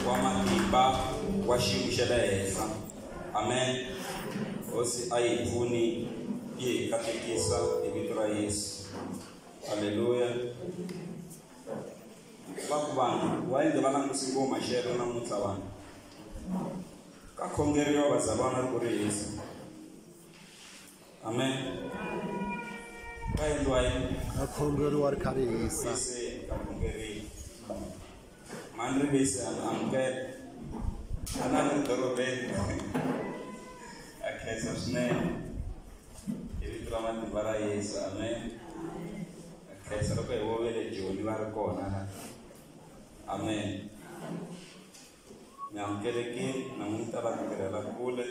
wa matimba wa xiyimo xa le henhla amen hosi a yi pfuni yi hi katekisa hi vito ra yesu halleluya va ku vanhu wa yende va langutisi ngo maxelo namuntlha vanhu ka khongeriwa vazalwana ku ri yesu amen va endliwa yini va khongeriwa ri kha ri hisa se nga khongerini mani ri vise a amukela a na ri dorobeni a khensa swinene hi vito ra matimba ra yesu amen a khensa loko hi vovele joni va ri kona la amen mi amukelekile namuntlha va tirhela kule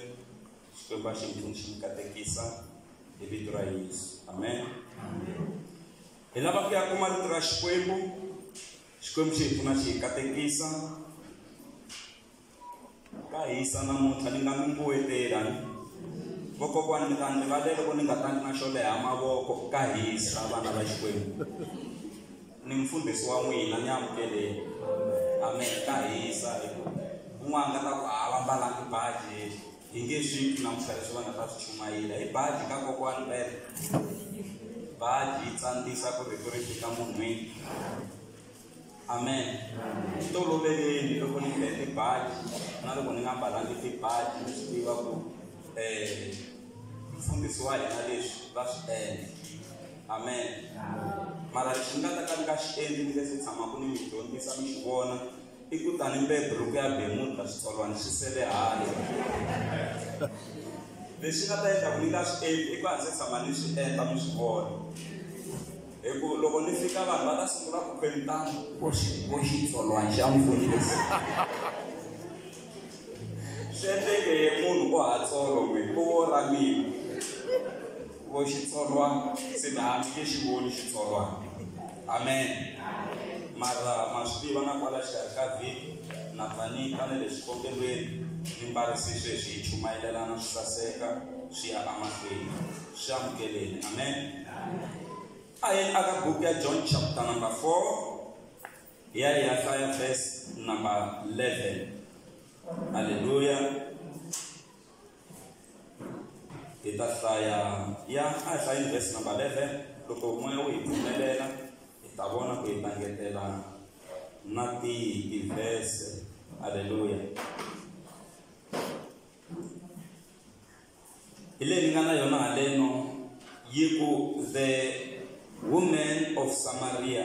xikwembu a xi ndlhuli xi mi katekisa hi vito ra yesu amen hi lava ku ya kuma rito ra xikwembu xikwembu xi hi pfuna xi hi katekisa ka hisa namuntlha ni nga mi mbuwetelani vokokwani mi ta ni rivalele ku ni nga tangi na xo leha mavoko ka hisa vana va xikwembu ni mfundhisi wa n'wina ni amukeleni amen ka hisa hi ku un'wana nga ta ku a va mbalangi baji hi nge swi twi namuntlha leswi va nga ta swi chumayela hi baji ka kokwani bele baji yi tsandzisa ku rito ri fika munhwini amen swi toloveleni loko ni mbele tibaji na loko ni nga mbalangi tibaji ni swi tiva ku um mfundhisi wa hina leswi va swi endla amen mara lexi ni nga ta ka ni nga xi endli ni nge se tshamaka ni mi dyondzisa mi xi vona i ku tani mbe buruku ya bemuta xitsolwana xi sele hale lexi nga ta endla ku ni nga swi endli i ku a ndzi tshama ni swi endla mi swi vona hi ku loko ni fika vanhu va ta sungula ku kwelitana vo xitsolwana xa mfundisi swi endleke munhu o hatsolo n'we o wo ra mina Vo xitsolwana se na mi nge xi voni xitsolwana. Amen. Mara ma swi tiva na kwala xikarhi ka vhiki na pfa ni ta na le xikombelweni ni mbarisi sweswi hi chumayelelana swi saseka swi ya emahlweni swi amukeleni amen a hi aka buku ya john chapter number 4 hi ya hi ya hlaya verse number 11 halleluya hi ta hlaya ya a hi hlayini vhesi number 11 loko moya wu hi pfumelela hi ta vona ku hi ta ngetela na tihi tivhese halleluya hi leyi ni nga na yona haleno yi ku the woman of samaria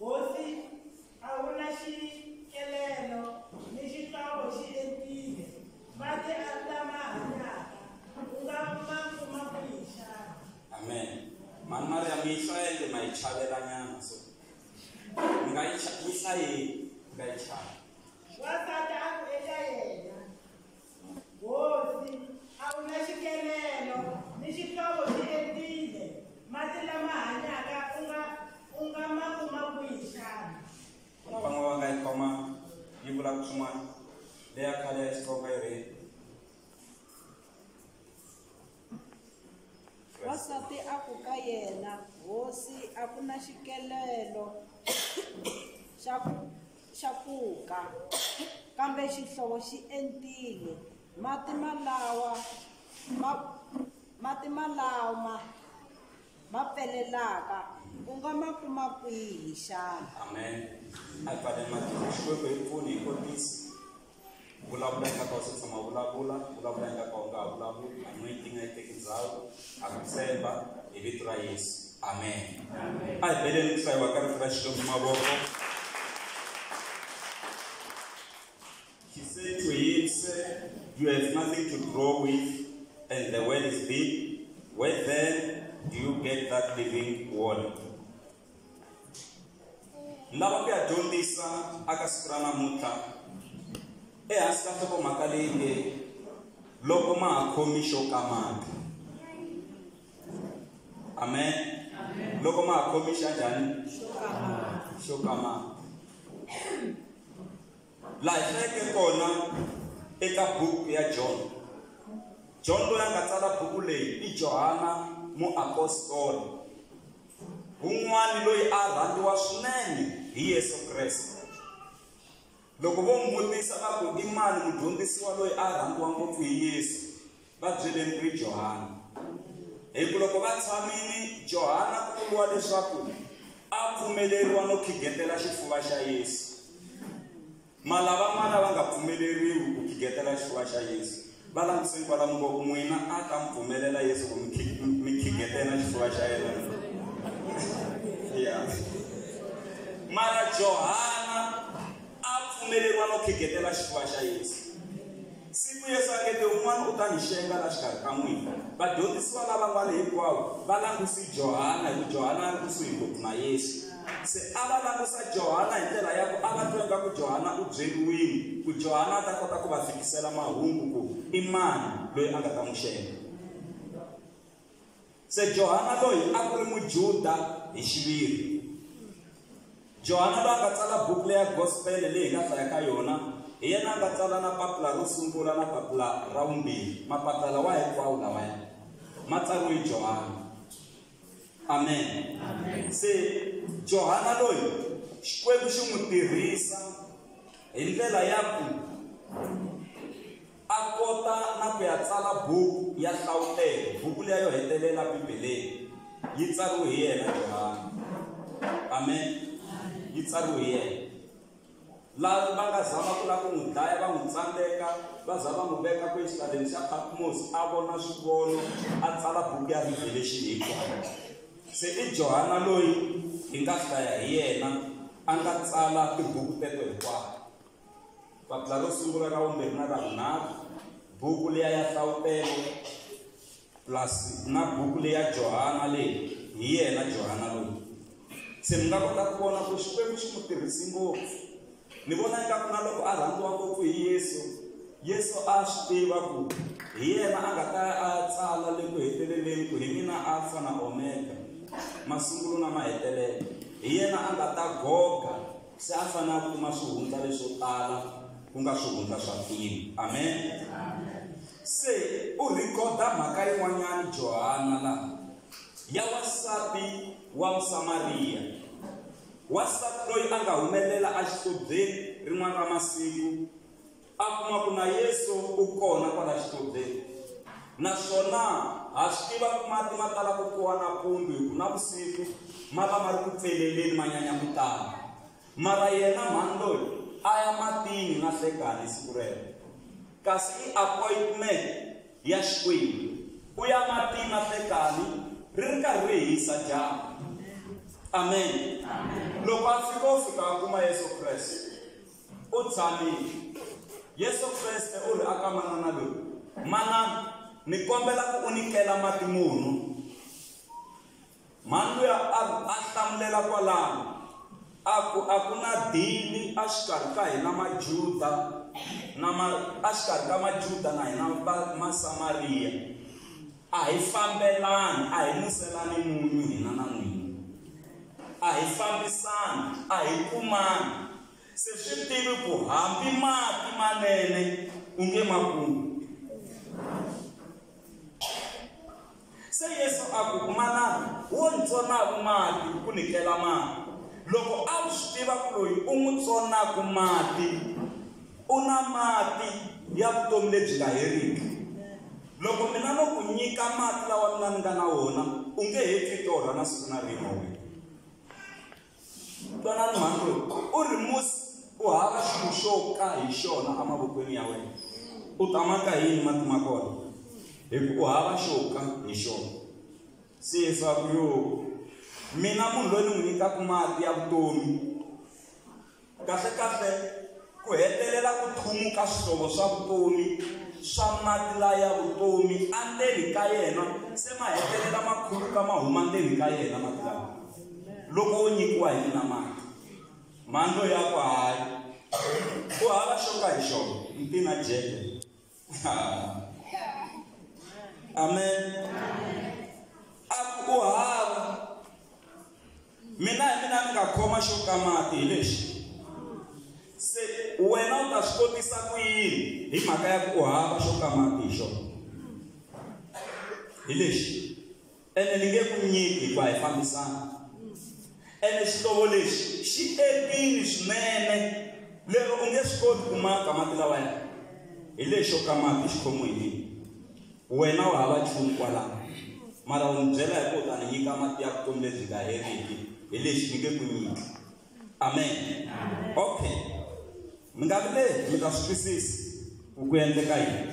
Hosi, a wu na xikelelo ni xihlovo xi entile, mati a lama hanyaka u nga ma kuma kwihi xana? Amen. Mhani Mariya mi yi hlayele ma yi chavelanyana so mi nga yi yi hlayeli mi nga yi chavi. Wansati a ku eka yena, Hosi, a wu na xikelelo, ni xihlovo xi entile. Masi lama hanyaka u nga u nga ma kuma kwihi xana? Kona van'we va nga yi khoma yi vula ku swin'wana leya khale ya strawberry Wansati a ku ka yena, Hosi, a ku na xikelelo xa ku Xa pfuka, kambe xihlovo xi entile. Mati malawa ma mati malama ma pfelelaka u nga ma kuma kwihi xana? Amen. Hi fanele mati Xikwembu hi pfuni hi kotisa. vulavula yi nga ka u se tshama vulavula vulavula yi nga ka u nga ha vulavuli anointing a yi teki ndhawu a ku tshemba hi vito ra yesu amen a hi beleni ku hlayiwa ka rito ra xikwembu mavoko he said to him sir you have nothing to grow with and the well is deep where then do you get that living water ni lava ku ya dyondzisa aka siku ra namuntlha ehansi ka nhlokomhaka leyi nge loko ma ha khomi xo kamata amen loko ma ha khomi xa njhani xo kamata laha hi hlayeke kona eka buku ya john john loyi a nga tsala buku leyi i johana muapostolo Wun'wana loyi a rhandziwa swinene hi Yesu Kreste. Loko vo n'wi vutisa va ku i mani mudyondzisiwa loyi a rhandziwa ngopfu hi Yesu, va byeleni ku ri Johana. Hi ku loko va tshamile Johana ku vuriwa leswaku a pfumeleriwa no khigetela xifuva xa Yesu. Mala van'wana va nga pfumeleriwi ku khigetela xifuva xa Yesu. Va langutiseni kwalamu ngo, N'wina a ta mi pfumelela Yesu ku mi khigetela xifuva xa yena? Yeah. Mara Johana a pfumeleriwa no khigetela xifuva xa Yesu. Siku Yesu a nge te, Un'wana u ta ni xenga la xikarhi ka n'wina. Vadyondzisiwa lavan'wana hinkwawo va languse Johana hi ku Johana a ri kusuhi ngopfu na Yesu. Se a va langusa Johana hi ndlela ya ku a va twa ingaku Johana u byeriwile ku Johana a ta kota ku va fikisela mahungu ku i mani loyi a nga ta n'wi xenga. Se Johana loyi a ku ri Mujuda hi xiviri. Johana loyi a nga tsala buku leya Gospele leyi hi nga hlaya ka yona, hi yena a nga tsala na papila ro sungula na papila ra vumbirhi. Mapapila lawa hinkwawo lawaya ma tsariwe hi Johana. Amen. Se Johana loyi Xikwembu xi n'wi tirhisa hi ndlela ya ku A kota na ku ya tsala buku ya Hlawutelo, buku liya yo hetelela Bibeleni. Yi tsariwe hi yena Johani. Amen. Yi tsariwe hi yena. Laha va nga zama ku lava ku n'wi dlaya va n'wi tsandzeka va za va n'wi veka kuexitaleni xa Patmos a vona swivono a tsala buku ya Revelation hinkwayo. Se i Johana loyi hi nga hlaya hi yena a nga tsala tibuku teto hinkwato. Papila ro sungula ra vumbirhi na ra vunharhu buku leya ya hlawutelo plus na buku leya johana leyi hi yena johana loyi se mi nga kota ku vona ku xikwembu xi n'wi tirhisi ngopfu ni vona ingaku na loko a rhandziwa ngopfu hi yesu yesu a swi tiva ku hi yena a nga ta a tsala le ku heteleleni ku hi mina alfa na omega masungulo na mahetelelo hi yena a nga ta goga se a fanele a kuma swihundla leswo tala ku nga swihundla swa filimu amen se u rhikhoda mhaka yin'wanyana johana laha ya wansati wa musamariya wansati loyi a nga humelela exitobeni rin'wana ra masiku a kuma ku na Yesu u kona kwala xitoveni naswona ha swi tiva ku mati ma tala ku kuwa nampundzu hi ku na vusiku ma va ma ri ku pfeleleni ma nyanya ku tala mara yena mhani loyi a ya matini na hlekani siku rero kasi i appointment ya xikwembu u ya matini na hlekani ri ri karhi ri hisa dyambu amen loko a fika u fika a kuma yesu kreste U tshamile. Yesu Kriste u ri aka manana loyi, Manana, ni kombela ku u nikela mati munhu. Mhani luya a a hlamulela kwalano, a ku a ku na dini exikarhi ka hina Majuda na ma exikarhi ka Majuda na hina Masamariya. A hi fambelani, a hi nuselani munyu hina na n'wina. A hi fambisani, a hi kumani. Se swi tivi ku hambi mati manene u nge ma kumi. Se Yesu a ku, Manana, wo ni tsonaka mati ku ni kela mati. Loko a wu swi tiva ku loyi u n'wi tsonaka mati u na mati ya vutomi lebyi nga heriki, loko mina no ku nyika mati lawa mina ni nga na wona u nge he pfi torha na siku na rin'we wena twanani mhani loyi u ri musi u hava xilo xo ka hi xona emavokweni ya wena u ta maka yini mati ma kona hi ku u hava xo ka hi xona se leswaku yo mina munhu loyi ni n'wi nyikaka mati ya vutomi Kahle-kahle, ku hetelela ku thumuka swihlovo swa vutomi swa mati laya vutomi andzeni ka yena se ma hetelela ma khuluka ma huma ndzeni ka yena mati lawa loko wo nyikiwa hi mina mati mandlo ya ku hayi ku hava xo ka hi xona ntina jeke amen a ku hava mina hi mina ni nga khoma xo ka mati hi lexi se wena u ta swi kotisa ku yini hi mhaka ya ku hava xo ka mati hi xona hi lexi ene ni nge ku nyiki hikuva hi fambisana ene xihlovo lexi xi epini swinene lero u nge swi koti ku maka mati lawa ya hi lexo ka mati xi khomiwe hi mina wena wa hava nchumu kwalaho mara u ni byela hi ku u ta ni nyika mati ya vutomi lebyi nga heriki hi lexi ni nge ku nyiki amen okay mi nga vileli mi ta swi twisisi ku ku endleka yini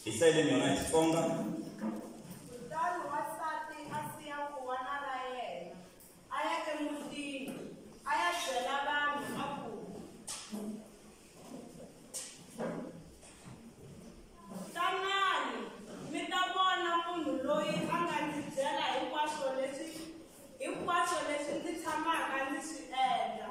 Hi hlayile ni yona hi Xitsonga. Kutani wansati a siya khuwana ra yena, a ya emutini, a ya byela vanhu a ku, Tanani mi ta vona munhu loyi a nga ndzi byela hinkwaswo leswi hinkwaswo leswi ndzi tshamaka ndzi swi endla.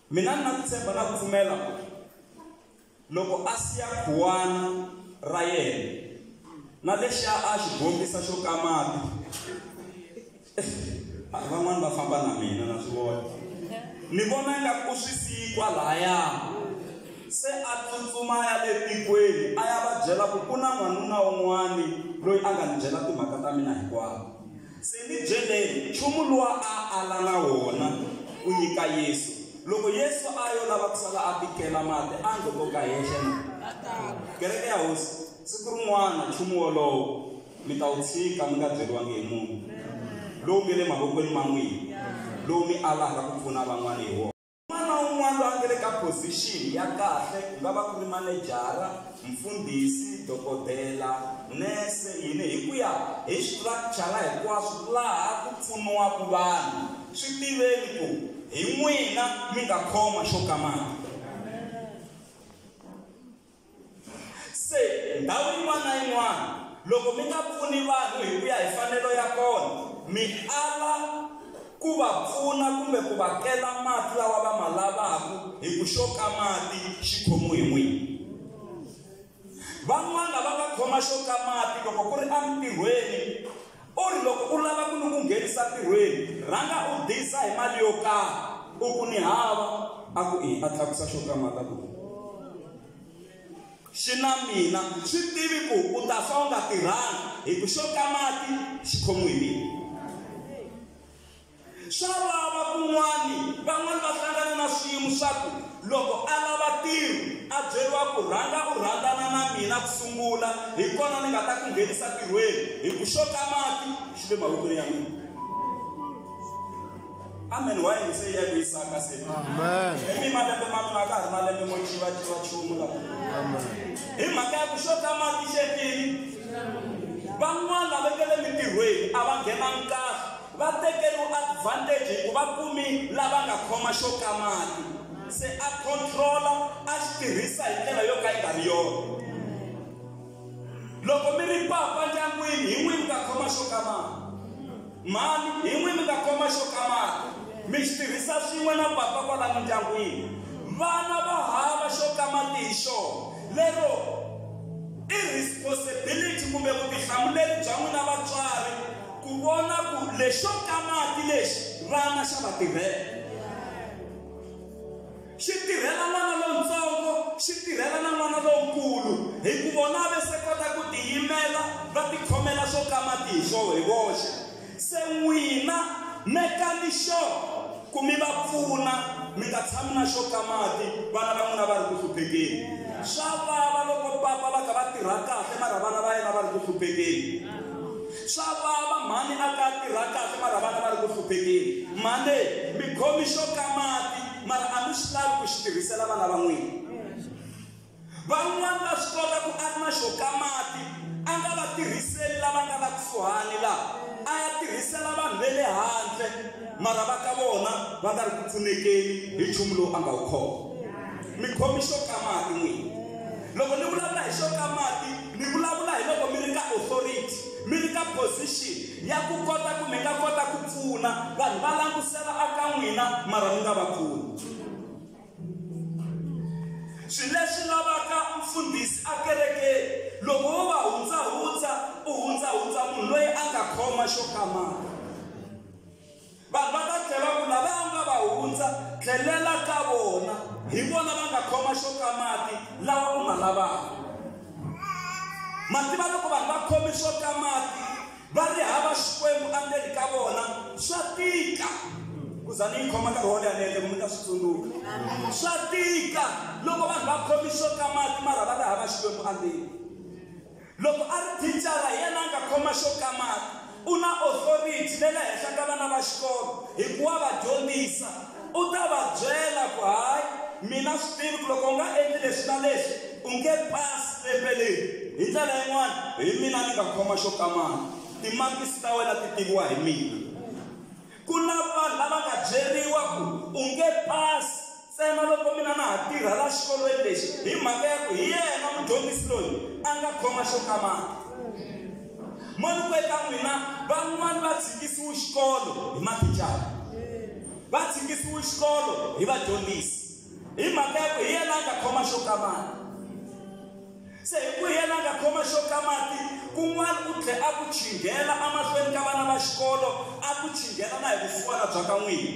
Mina ni na ku tshemba na ku pfumela ku loko a siya khuwana ra yena na lexiya a xi bombisa xo ka mati van'wani va famba na mina na swi vona ni vona nga ku swi siyi kwalaya se a tsutsuma ya le tikweni a ya va byela ku ku na n'wanuna un'wani loyi a nga ni byela timhaka ta mina hinkwato Se ni byeleni, nchumu luwa a a la na wona ku nyika Yesu. Loko Yesu a yo lava ku sala a tikela mati, a ngo to ka henhla na? Kereke ya Hosi, siku rin'wana nchumu wolowo mi ta wu tshika mi nga byeriwangi hi munhu, lowu nge le mavokweni ma n'wina, lowu mi alaka ku pfuna van'wana hi wona. Un'wana na un'wana loyi a nga le ka phozixini ya kahle, ku nga va ku ri manejara, mfundhisi, dokodela, nese, yini, hi ku ya hi structure la hinkwaswo laha ku pfuniwaka vanhu, swi tiveni ku hi n'wina mi nga khoma xo ka mali. Se ndhawu yin'wana na yin'wana loko mi nga pfuni vanhu hi ku ya hi fanelo ya kona mi ala ku va pfuna kumbe ku va kela mati lawa va ma lavaka hi ku xo ka mati xi khomiwe hi n'wini van'wana va nga khoma xo ka mati loko ku ri entirhweni U ri, Loko u lava ku ni ku nghenisa ntirhweni, rhanga u diza hi mali yo karhi. U ku, Ni hava. A ku, Ii, a tlakusa xo kamata ku xi na mina. Swi tivi ku u ta fa u nga tirhangi, hi ku xo kamati xi khomiwe hi mina. swa vava kun'wani van'wani va hlangana na swiyimo swa ku loko a lava tiro a byeriwa ku rhanga u rhandzana na mina ku sungula hi kona ni nga ta ku nghenisa tirhweni hi ku xo ka mati xi le mavokweni ya mina amen wa yini se ya ku yisaka se hi mi malembe ma mina ka ha ri malembe mo chiva chiva chumu la hi mhaka ya ku xo ka mati xetini van'wana va vekele mintirhweni a va nghena nkarhi Va tekeriwe advantage hi ku va kumi lava nga khoma xo ka mati, se a control-a a xi tirhisa hi ndlela yo ka yi nga ri yona. Loko mi ri papa ndyangwini hi n'wini mi nga khoma xo ka mati, mhani hi n'wini mi nga khoma xo ka mati mi xi tirhisa swin'we na papa kwala mindyangwini. Vana va hava xo ka mati hi xona, lero i responsibility kumbe vutihlamuleri bya n'wina vatswari. ku vona ku lexo ka mati lexi vana xa va tirhela xi tirhela n'wana lontsongo xi tirhela na n'wana lonkulu hi ku vona ve se kota ku tiyimela va tikhomela swo ka mati hi swo hi voxe se n'wina mekani xo ku mi va pfuna mi nga tshami na xo ka mati vana va n'wina va ri ku hluphekeni swa vava loko papa va kha va tirha kahle mara vana va yena va ri ku hluphekeni Swa vava mhani a ka tirha kahle mara vana va ri ku hluphekeni. Mhani mi khomi xo ka mati mara a mi swi lavi ku xi tirhisela vana va n'wina. Van'wana va swi kota ku a ri na xo ka mati a nga va tirhiseli lava nga la kusuhani la a ya tirhisela vanhu ve le handle mara va ka vona va nga ri ku pfunekeni hi nchumu lowu a nga wu khoma. Mi khomi xo ka mati n'wina. Loko ni vulavula hi xo ka mati Mi vulavula hi loko mi ri ka authority, mi ri ka position ya ku kota ku mi nga kota ku pfuna vanhu va langutisela a ka n'wina mara mi nga va pfuni. Swi leswi lavaka mfundhisi a kerekeni loko wo va hundzahundza u hundzahundza munhu loyi a nga khoma xo kamaka. Vanhu va ta tlhela ku lava u nga va hundza, tlhelela ka vona. Hi vona va nga khoma xo ka mati lawa u ma lavaka. Mativa loko vanhu va khome xo ka mati va ri hava xikwembu endzeni ka vona swa tika ku za ni yi khoma nkarhi wo leha ni endle ku mi ta swi tsundzuka swa tika loko vanhu va khome xo ka mati mara va ri hava xikwembu endzeni Loko a ri thicara, hi yena a nga khoma xo kamata. U na othoriti le le henhla ka vana va xikolo hi ku wa va dyondzisa. U ta va byela ku, Hayi, mi na swi tivi ku loko u nga endli leswi na leswi, u nge pasi lembe leri. Hi ndlela yin'wana, hi mina ni nga khoma xo kamata. Timakisi ta wena ti tiviwa hi mina. Ku na vanhu lava nga byeriwa ku, U nge pasi ntsena loko mina na ha tirha laha xikolweni lexi hi mhaka ya ku hi yena mudyondzisi loyi a nga khoma xo kamata. Mavoko eka n'wina van'wani va tshikisiwe xikolo hi mathicara va tshikisiwe xikolo hi vadyondzisi hi mhaka ya ku hi yena a nga khoma xo ka mati se hi ku hi yena a nga khoma xo ka mati kun'wana u tlhe a ku chinghela emahlweni ka vana va xikolo a ku chinghela na hi vusiwana bya ka n'wini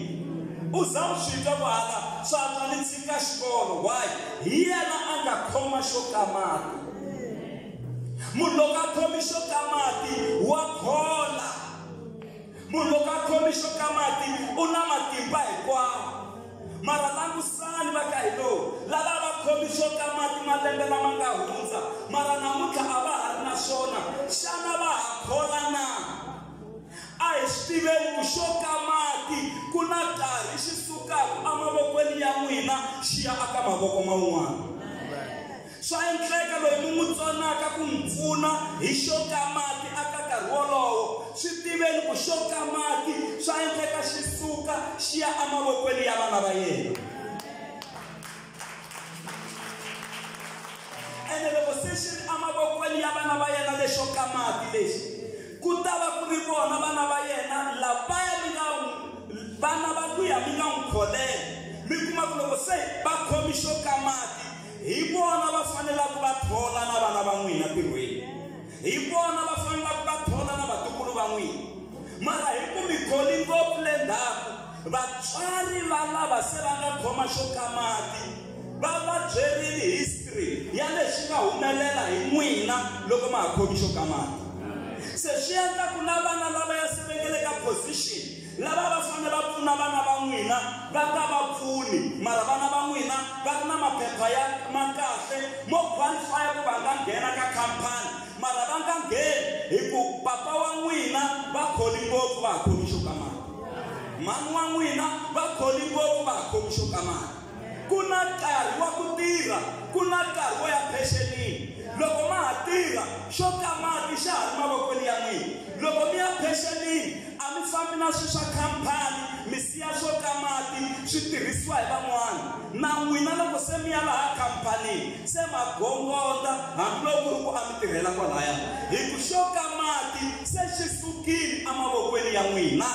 u za u swi twa ku hala swa twa ni tshika xikolo why hi yena a nga khoma xo ka mati munhu loko a khomi xo ka mati wa khola munhu loko a khomi xo ka mati u na matimba hinkwawo mara langusani va ka hino lava va khomi xo ka mati malembe lama nga hundza mara namuntlha a va ha ri na swona xana va ha khola na a hi swi tiveni ku xo ka mati ku na karhi xi sukaka emavokweni ya n'wina xi ya aka mavoko man'wana Swa endleka loyi mi n'wi tsonaka ku n'wi pfuna hi xo ka mati a ka nkarhi wolowo. Swi tiveni ku xo ka mati swa endleka xi suka xi ya emavokweni ya vana va yena. Ene loko se xi ri emavokweni ya vana va yena lexo ka mati lexi, ku ta va ku ri vona vana va yena lavaya mi nga vana va luya mi nga n'wi kholela. Mi kuma ku loko se va khome xo ka mati, hi vona va fanelaka va thola na vana va n'wina tirhweni hi vona va fanelaka va thola na vatukulu va n'wina mara hi ku mi kholi ngopfu le ndzhaku vatswari va lava se va nga khoma xo ka mati va va byerile history ya leswi nga humelela hi n'wina loko ma ha khomi xo ka mati se swi endla ku na vana lava ya se vengeleka position Lava va fanele va pfuna vana va n'wina va nga va pfuni, mara vana va n'wina va ri na maphepha ya ma kahle mo qualify-a ku va nga nghena ka khamphani, mara va nga ngheni hi ku papa wa n'wina va kholi ngopfu va ha khomi xo ka mali, mhani wa n'wina va kholi ngopfu va ha khomi xo ka mali. ku na nkarhi wa ku tirha ku na nkarhi wo ya phexenini loko ma ha tirha xo ka mati xa ha ri mavokweni ya n'wina loko mi ya phexenini a mi fambi na swilo swa khampani mi siya swo ka mati swi tirhisiwa hi van'wana na n'wina loko se mi ya laha khampanini se ma gongonda hambiloko ri ku a mi tirhela kwalaya hi ku xo ka mati se xi sukile emavokweni ya n'wina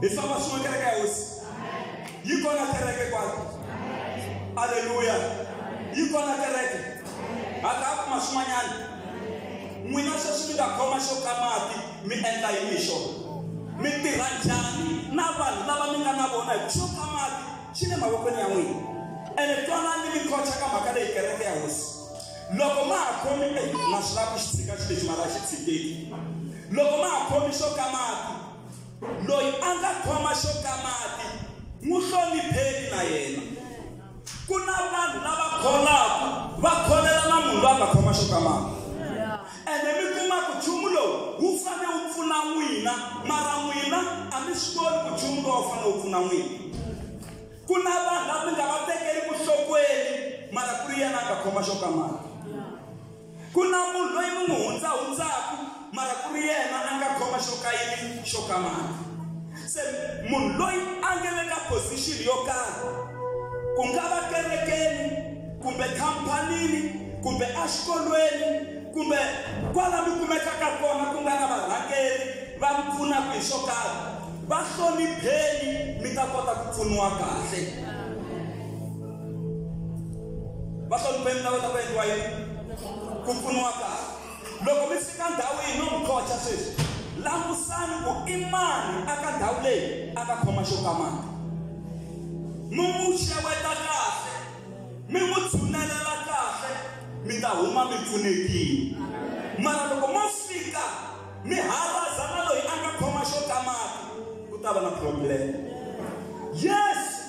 hi famba swin'we kereke ya hosi yi kona kereke kwalo aleluya yi kona kereke hatla a kuma swin'wanyana n'wina sweswi mi nga khoma xo ka mati mi endla yini hi xona mi tirha njhani na vanhu lava mi nga na vona hi xo ka mati xi le mavokweni ya n'wina ene twanani mi khocha ka mhaka leyi kereke ya hosi loko ma ha khomi na swi lava ku xi tshika xi lexi mara a xi tshikeki loko ma ha khomi xo ka mati loyi a nga khoma xo ka mati n'wi hlonipheni na yena ku na vanhu lava kholaka va kholela na munhu loyi a nga khoma xo ka mati ene mi kuma ku nchumu lowu wu fanele wu pfuna n'wina mara n'wina a mi swi koti ku nchumu lowu wu fanele wu pfuna n'wina Ku na vanhu lava mi nga va tekeli ku hlokweni mara ku ri yena a nga khoma xo ka mali. Ku na munhu loyi mi n'wi hundzahundzaku mara ku ri yena a nga khoma xo ka yini xo ka mali. Se munhu loyi a nga le ka position yo karhi ku nga va kerekeni kumbe khampanini kumbe exikolweni kumbe kwala mi kumekaka kona ku nga na varhangeri va mi pfunaka hi swo karhi Va hlonipheni mi ta kota ku pfuniwa kahle. Va hlonipheni ta kota ku endliwa yini? Ku pfuniwa kahle. Loko mi fika ndhawu yihi no mi qocha sweswi, langusani ku i mani a ka ndhawu leyi a ka khoma xo ka mati. Mi n'wi xeweta kahle, mi n'wi tshunelela kahle, mi ta huma mi pfunekile. Mara loko mo fika Mi hava zama loyi a nga khoma xo kamaka ku ta va na problem. Yesu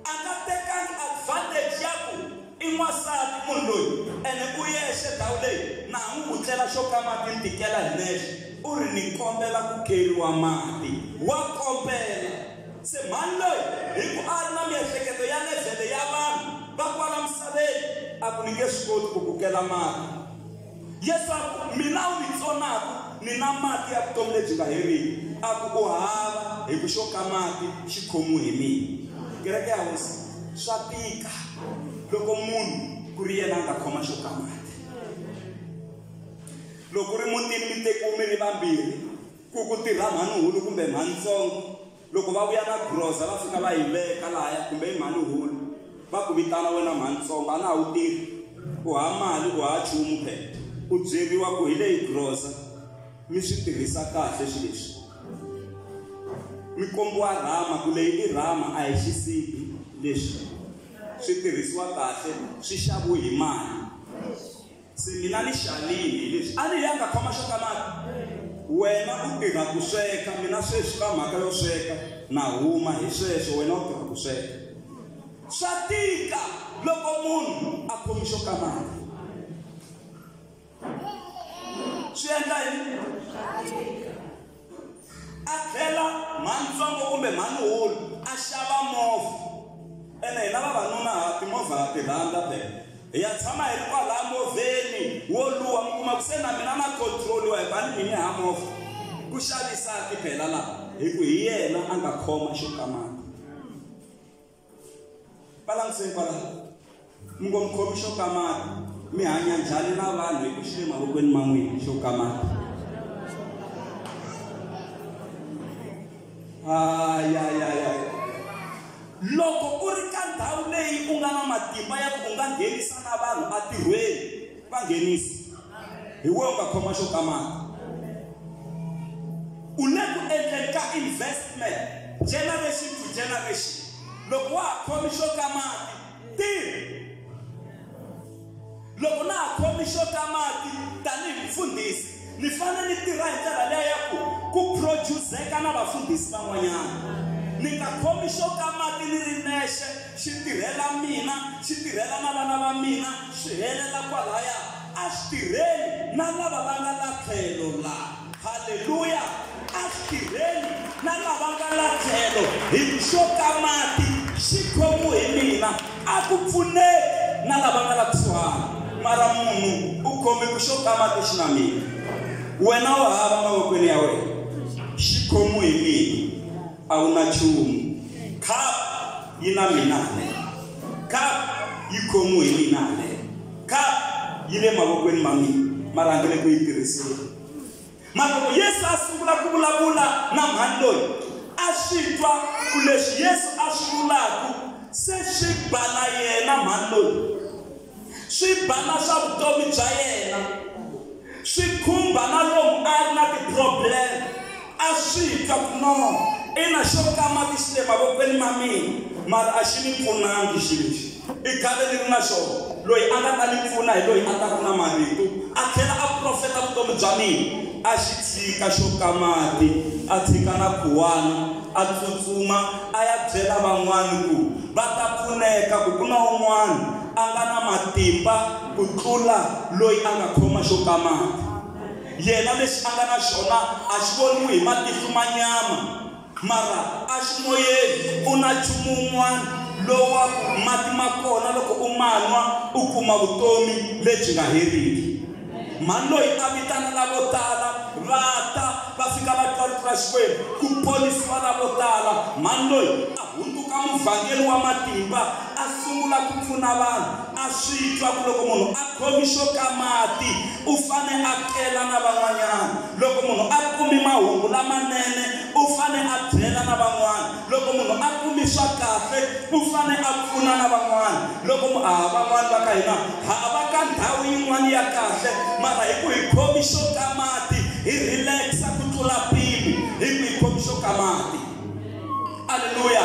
a nga tekanga advantage ya ku i n'wansati munhu loyi ene u yexe ndhawu leyi na ha n'wi vutlela xo kamaka ni tikela hi nexe u ri ni kombela ku keriwa mati wa kombela se mhani loyi hi ku a ri na miehleketo ya levhele ya vanhu va kwala misaveni a ku ni nge swi koti ku kukela mati leswaku mina u ni tsonaku ni na mati ya vutomi lebyi nga heriki a ku u hava hi ku xo ka mati xi khomiwe hi mina kereke ya hosi swa tika loko munhu ku ri yena a nga khoma xo ka mati loko ri mutini mi tekiwe mi ri vambirhi ku ku tirha mhanuhulu kumbe mhanutsongo loko va vuya na groza va fika va yi veka lahaya kumbe i mhani hulu va ku vitana wena mhani tsongo a na ha wu tirhi u ha mali u ha chumu phela u byeriwa ku hi leyi groza mi swi tirhisa kahle swi leswi mi kombiwa rhama ku leyi i rhama a hi xisibi leswi swi tirhisiwa kahle swi xaviwe hi mali se mina ni xalini hi leswi a ni yanga khoma xo ka mati wena u tirha ku sweka mina sweswi ka mhaka yo sweka na huma hi sweswo wena u tirha ku sweka swa tika loko munhu a khomi xo ka mati swi endla yini a tlhela mhanintsongo kumbe mhaninhulu a xava movha ene hina vavanuna ha timovha ha ti rhandza phela hi ya tshama hi ri kwalaya movheni wo luwa mi kuma ku se na mina na controliwa hi vani mini ha movha ku xavisaki phela laha hi ku hi yena a nga khoma xo kamaka Balancing kwala. Mngomkhomi xo kamata. Mi hanya njhani na vanhu hi ku xi le mavokweni ma n'wina xo kamata. Ay ay ay ay. Loko u ri ka ndhawu leyi u nga na matimba ya ku u nga nghenisa na vanhu entirhweni va nghenisa. hi we u nga khoma xo kamaka u le ku endleni ka investment generation to generation loko wa ha khomi xo kamaka tirhi loko na ha khomi xo kamaka tanihi mfundhisi ni fanele ni tirha hi ndlela leyi ya ku ku produceka na vafundhisi van'wanyana ni nga khomi xo kamaka ni ri nexe xi tirhela mina, xi tirhela na vana va mina, swi helela kwalaya. A swi tirheli na lava va nga la tlhelo la. Haleluya! A swi tirheli na lava nga la tlhelo. Hi xoka mati, xi khomu hi mina. A ku pfuneki na lava nga la kusuhana. Mara munhu u khome ku xoka mati xi na mina. Wena u hava mavokweni ya wena, xi khomu hi mina. A wu na chumu. Cup yi na mina le. Cup yi khomiwe hi mina le. Cup yi le mavokweni ma mina. Mara ndzi le ku yi tirhiseni. Mara loko Yesu a sungula ku vulavula na mhani loyi, a swi twa ku leswi Yesu a swi vulaka se swi ba na yena mhani loyi. swi ba na swa vutomi bya yena, swi khumba na lomu a ri na ti-problem, a swi twa ku no, ina xo kamati xi le mavokweni ma mina mara a xi ni pfunangi xilo lexi. I khale ni ri na xona, loyi a nga ta ni pfuna hi loyi a taka na marito a tlhela a profeta vutomi bya mina. A xi tshika xo ka mati, a tshika na khuwana, a tsutsuma a ya byela van'wana ku va ta pfuneka ku ku na un'wana a nga na matimba ku tlula loyi a nga khoma xo ka mati. Yena lexi a nga na xona a xi voniwi hi matihlo ma nyama, mara a xi moyeni ku na nchumu wun'wana lowu wa ku mati ma kona loko u ma nwa u kuma vutomi lebyi nga heriki. Mhani loyi a vitana lavo tala va ta, va fika va twa rito ra Xikwembu, ku ponisiwa lavo tala. Mhani loyi a hundzuka muvhangeri wa matimba, a sungula ku pfuna vanhu. A swi twa ku loko munhu a khomi xo ka mati, u fane a kela na van'wanyana. Loko munhu a kumi mahungu lamanene, u fane a byela na van'wana. Loko munhu a kumi swa kahle, u fane a pfuna na van'wana. Loko mu, ah, van'wana va ka hina ha va ka ndhawu yin'wana ya kahle, mara hi ku hi khomi xo ka mati, hi relax-a ku tlula mpimo, hi ku hi khomi xo ka mati. Aleluya!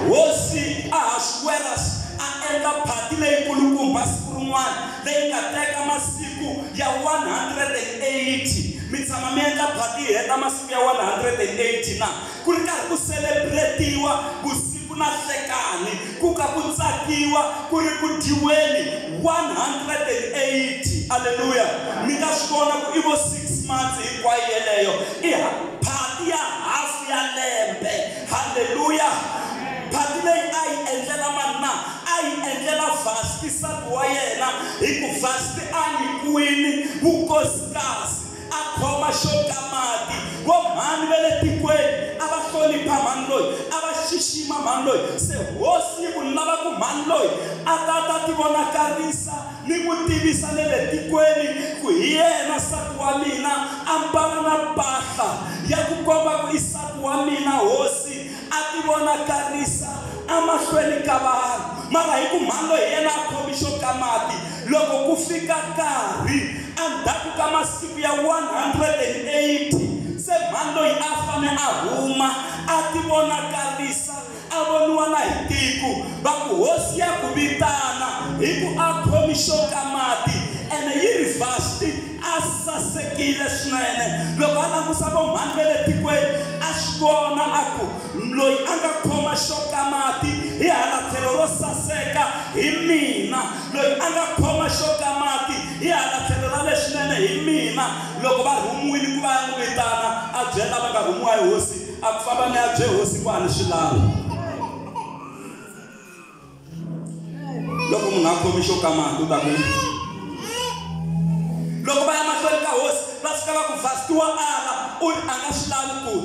Hosi Ahasuweras a endla phati leyikulukumba siku rin'wana, leyi nga teka masiku ya 180. Mi tshama mi endla phati yi heta masiku ya 180 na? Ku ri karhi ku selebretiwa vusiku na nhlekani, ku ka ku tsakiwa, ku ri ku dyiweni 180. Aleluya! Mi nga swi vona ku i vo six months hinkwayo yeleyo, i phati ya hafu ya lembe. Haleluya! Phati leyi a yi endlela mani na? A yi endlela Vasti, nsati wa yena, hi ku Vasti a nyikiwile vukosikazi. a khoma xo ka mati. Vo mhani va le tikweni a va hlonipha mhani loyi, a va xixima mhani loyi. Se hosi yi ku lava ku mhani loyi a ta ta tivonakarisa ni ku tivisa le le tikweni ku hi yena nsati wa mina, a mbala na mpahla ya ku komba ku i nsati wa mina. Hosi a tivonakarisa amahlweni ka vanhu, mara hi ku mhani loyi hi yena a khomi xo ka mati, loko ku fika nkarhi andzhaku ka masiku ya 180, se mhani loyi a fane a huma a tivonakarisa a voniwa na hi tiko, va ku hosi ya ku vitana hi ku a khomi xo ka mati, ene yi ri Vasti, A sasekile swinene loko a langusa vo mhani va le tikweni, a swi vona a ku, Loyi a nga khoma xo ka mati hi hala tlhelo ro saseka hi mina, loyi a nga khoma xo ka mati hi hala tlhelo ra leswinene hi mina. Loko va rhumiwile ku va ya n'wi vitana, a byele lava nga rhumiwa hi hosi a ku, Fambani mi ya byela hosi ku a ni swi lavi. loko munhu a khomi xo kamati u ta ku loko va ya mahlweni ka hosi va fika va ku vastiwa ala u ri a nga swi lavi ku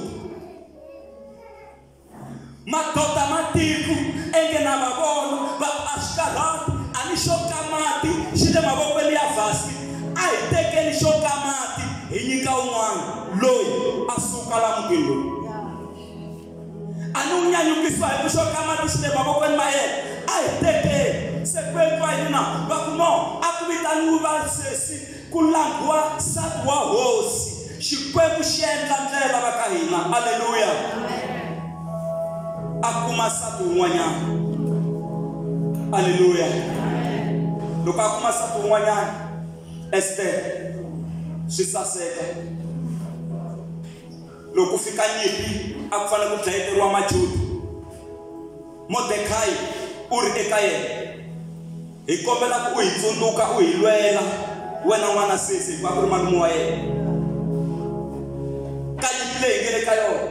madoda matiko enge na va vona va ku a swi karhati a ni xo kamati xi le mavokweni ya vhasi a hi tekeni xo kamati hi nyika un'wana loyi a suka la mutini lowu a ni wu nyanyukisiwa hi ku xoka mati swinene mavokweni ma yena a hi tekeni se ku endliwa yini na va ku no a ku vitaniwi vasesi ku langhiwa nsati wa hosi xikwembu xi endla ndlela va ka hina aleluya a kuma nsati wun'wanyana aleluya loko a kuma nsati wun'wanyana estere swi saseka Loko ku fika nyimpi, a ku fanele ku dlayeteriwa Majuda. Modekhayi u ri eka yena, Hi kombela ku u hi tsundzuka u hi lwela, wena n'wana sesi, hikuva a ku ri malume wa yena, ka nyimpi leyi hi nge le ka yona.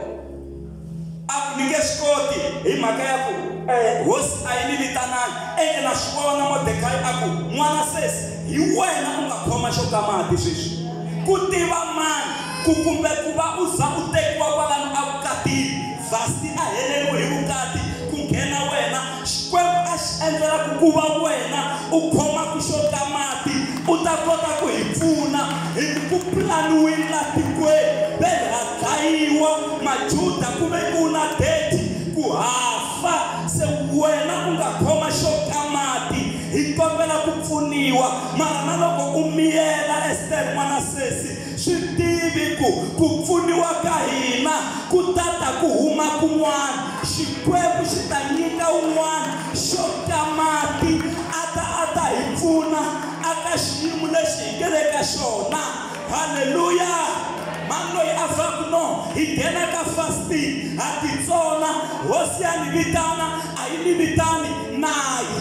a ku ni nge swi koti hi mhaka ya ku um hosi a yi ni vitanangi ende na swi vona modekayi a ku n'wana sesi hi wena u nga khoma xo ka mati sweswi ku tiva mani ku kumbe ku va u za u tekiwa kwalano evukatini vhasti a heleriwe hi vukati ku nghena wena xikwembu a xi endlela ku ku va wena u khomaka xo ka mati u ta kota ku hi pfuna hi ku pulaniwile la tikweni ve ha dlayiwa majuda ku ve ku na deti ku hafa se wena u nga khoma xo ka mati hi kombela ku pfuniwa mara na loko u miyela estere n'wana sesi Swi tivi ku ku pfuniwa ka hina ku ta ta ku huma kun'wana. Xikwembu xi ta nyika un'wana xo ka mati a ta a ta hi pfuna aka xiyimo lexi hi ngele ka xona. Haleluya! Mhani loyi a fa ku no hi nghena ka fasting, ha titsona, Hosi ya ni vitana a yi ni vitani na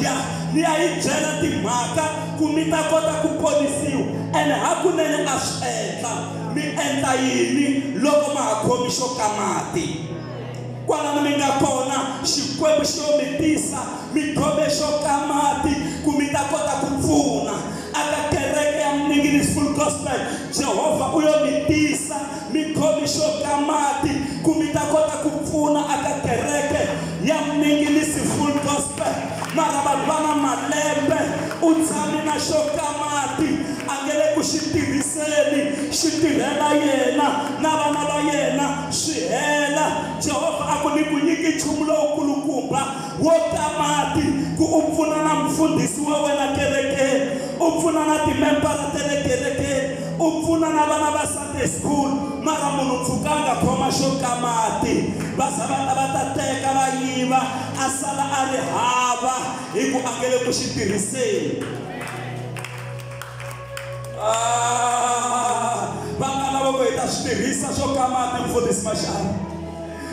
ya ni ya yi byela timhaka. ku mi ta kota ku ponisiwa, ene hakunene a swi endla. Mi endla yini loko ma ha khomi xo ka mati? Kwalano mi nga kona, Xikwembu xi lo mi tisa mi khome xo ka mati ku mi ta kota ku pfuna. Aka kereke ya Mninginis Full Gospel, Jehovha u yo mi tisa mikhomixo ka mati ku mi ta kota ku pfuna aka kereke ya mingilisi full gospel mara vanhu va na malembe u tshami na xo ka mati a nge le ku xi tirhiseni xi tirhela yena na vana va yena swi hela jehovha a ku ni ku nyiki nchumu lowukulukumba wo ka mati ku u pfuna na mfundhisi wa wena kerekeni u pfuna na timembara ta le kerekeni u pfuna na vana va Sunday school mara munhu pfukanga khoma xo ka mati va za va ta va ta teka va yiva a sala a ri hava hi ku a nge le ku xi tirhiseni ah, va nga lava ku hi ta swi tirhisa swo ka mati mfundhisi maxana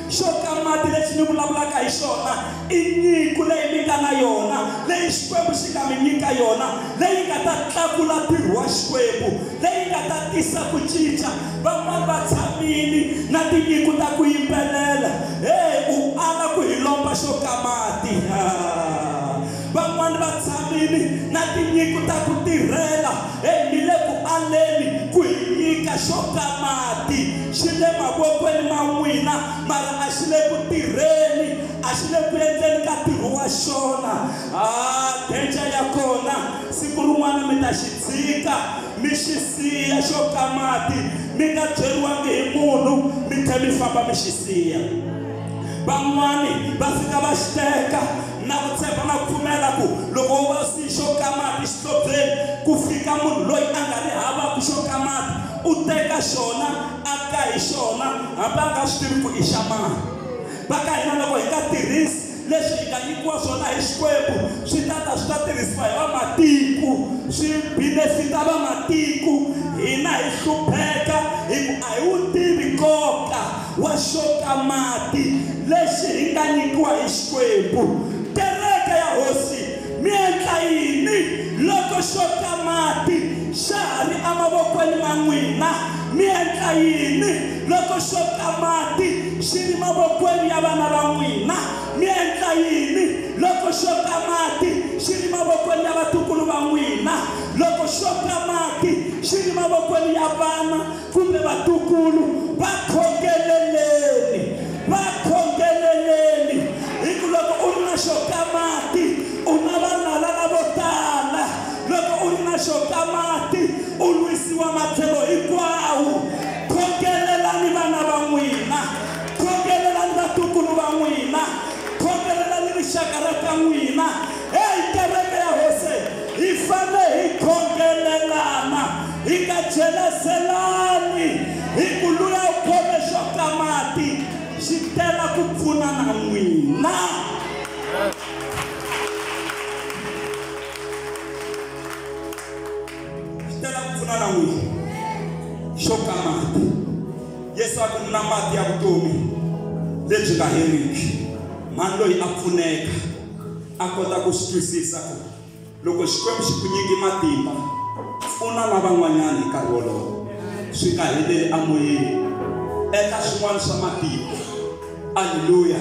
xo ka mati lexi ni vulavulaka hi xona i nyiko leyi mi nga na yona leyi xikwembu xi nga mi nyika yona leyi nga ta tlakula ntirho wa xikwembu leyi nga ta tisa ku cinca van'wana va tshamini na tinyiko ta ku yimbelela heyi u ala ku hi lomba xo ka mati van'wana va tshamile na tinyiko ta ku tirhela hi le ku aleni ku hi nyika xo ka mati xi le mavokweni ma n'wina mara a xi le ku tirheni a xi le ku endleni ka ntirho wa xona a denja ya kona siku rin'wana mi ta xi tshika mi xi siya xo ka mati mi nga byeriwangi hi munhu mi tlhe mi famba mi xi siya van'wani va fika va xiteka na ku tshemba na ku pfumela ku loko wo va swi xo ka mati xihlobyeni ku fika munhu loyi a nga ri havaku xo ka mati u teka xona a ka hi xona hambi a nga swi tivi ku i xa mani va ka hina loko hi nga tirhisi leswi hi nga nyikiwa swona hi xikwembu swi ta ta swi ta tirhisiwa hi vamatiko swi benefita vamatiko hina hi hlupheka hi ku a hi wu tivi nkoka wa xoka mati lexi hi nga nyikiwa hi Xikwembu. Kereke ya Hosi, mi endla yini loko xoka mati xa ha ri emavokweni ma n'wina? Mi endla yini loko xoka mati xi ri mavokweni ya vana va n'wina? Mi endla yini loko xoka mati xi ri mavokweni ya vatukulu va n'wina? Loko xoka mati xi ri mavokweni ya vana Kumbe vatukulu va khongeleleni, va khongeleleni, hi ku loko u ri na xo ka mati u na valala lavo tala, loko u ri na xo ka mati u lwisiwa matlhelo hinkwawo. Khongelelani vana va n'wina, khongelelani vatukulu va n'wina, khongelelani rixaka ra ka n'wina. Heyi kereke ya Hosi! Hi fanele hi khongelelana, hi nga jelazelani, hi ku luya u khome xo ka mati xi tela ku pfuna na n'wina. Xi tela ku pfuna na n'wina xo ka mati. Yesu a ku na mati ya vutomi lebyi nga heriki, mhani loyi a pfuneka. a kota ku swi twisisa ku loko Xikwembu xi ku nyiki matimba pfuna na van'wanyana hi nkarhi wolowo swi nga heleli amoyeni endla swin'wana swa matimba aleluya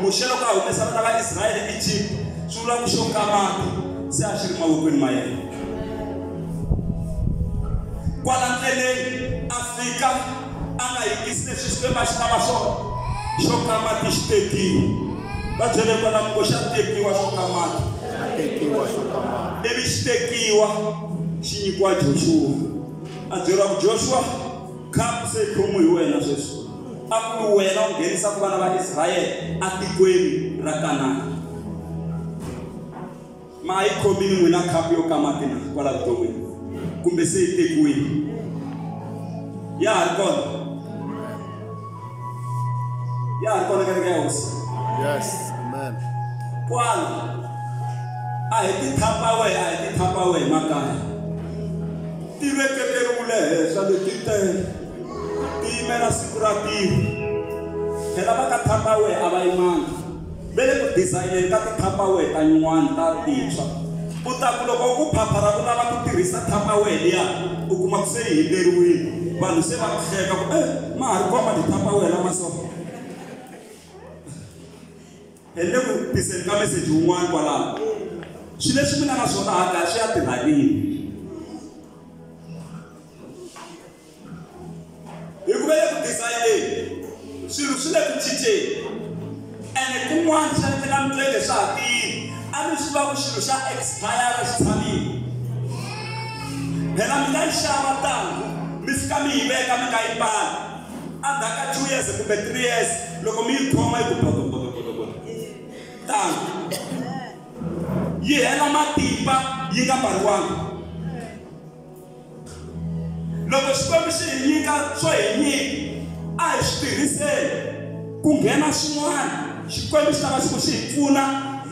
muxe loko a humesa vana va israyele ejipta swi vula ku xo ka mati se a swi ri mavokweni ma yena kwala ndleleni a fika a nga yingisi leswi swikwembu a xi lava swona xo ka mati xi tekiwe va byele kwalamu ko xa tekiwa xo ka mati ivi xi tekiwa xi nyikiwa joshua a byeriwa ku joshua khapu se yi khomiwe hi wena sweswi a ku ri wena u nghenisaka vana va israyele atikweni ra kanana Ma ha yi khomile n'wina khapu yo ka mati na kwala vuton'wini? Kumbe se yi tekiwile? Ya ha ri kona? Ya ha ri kona kereke ya hosi? Yes. Amen. Kwala. A hi ti thapa wehe, a hi ti thapa wehe makaya. Ti veketeriwile henhla leti tele. Ti yimela siku ra tiko. Phela va ka thapa wehe a va yimanga. ve le ku dizayineni ka tithapawehe ta nyuwani ta tintshwa. U ta ku loko u phaphara ku lava ku tirhisa thapawehe liya, u kuma ku se yi himberiwile. Vanhu se va ku hleka ku, Ey, ma ha ri kona matithapawehe lama so? Ni le ku tiseni ka meseji wun'wana kwalano. Swilo leswi mi nga na swona hala kaya swi ya tirha rini? hi ku ve le ku dizayineni swilo swi le ku cinceni ene kun'wana swi endleka mi twe leswa ha tiyini a mi swi va ku xilo xa expire xi tshamile phela mi nga yi xava tano mi fika mi yi veka mi nga yi mbali endzhaku ka two years kumbe three years loko mi yi khoma yi ku bodobodobodobodo tano yi hela matimba yi nga mbariwanga loko xikwembu xi hi nyika swo hi nyika a hi swi tirhiseni ku nghena swin'wana xikwembu xi lava xi ku xi hi pfuna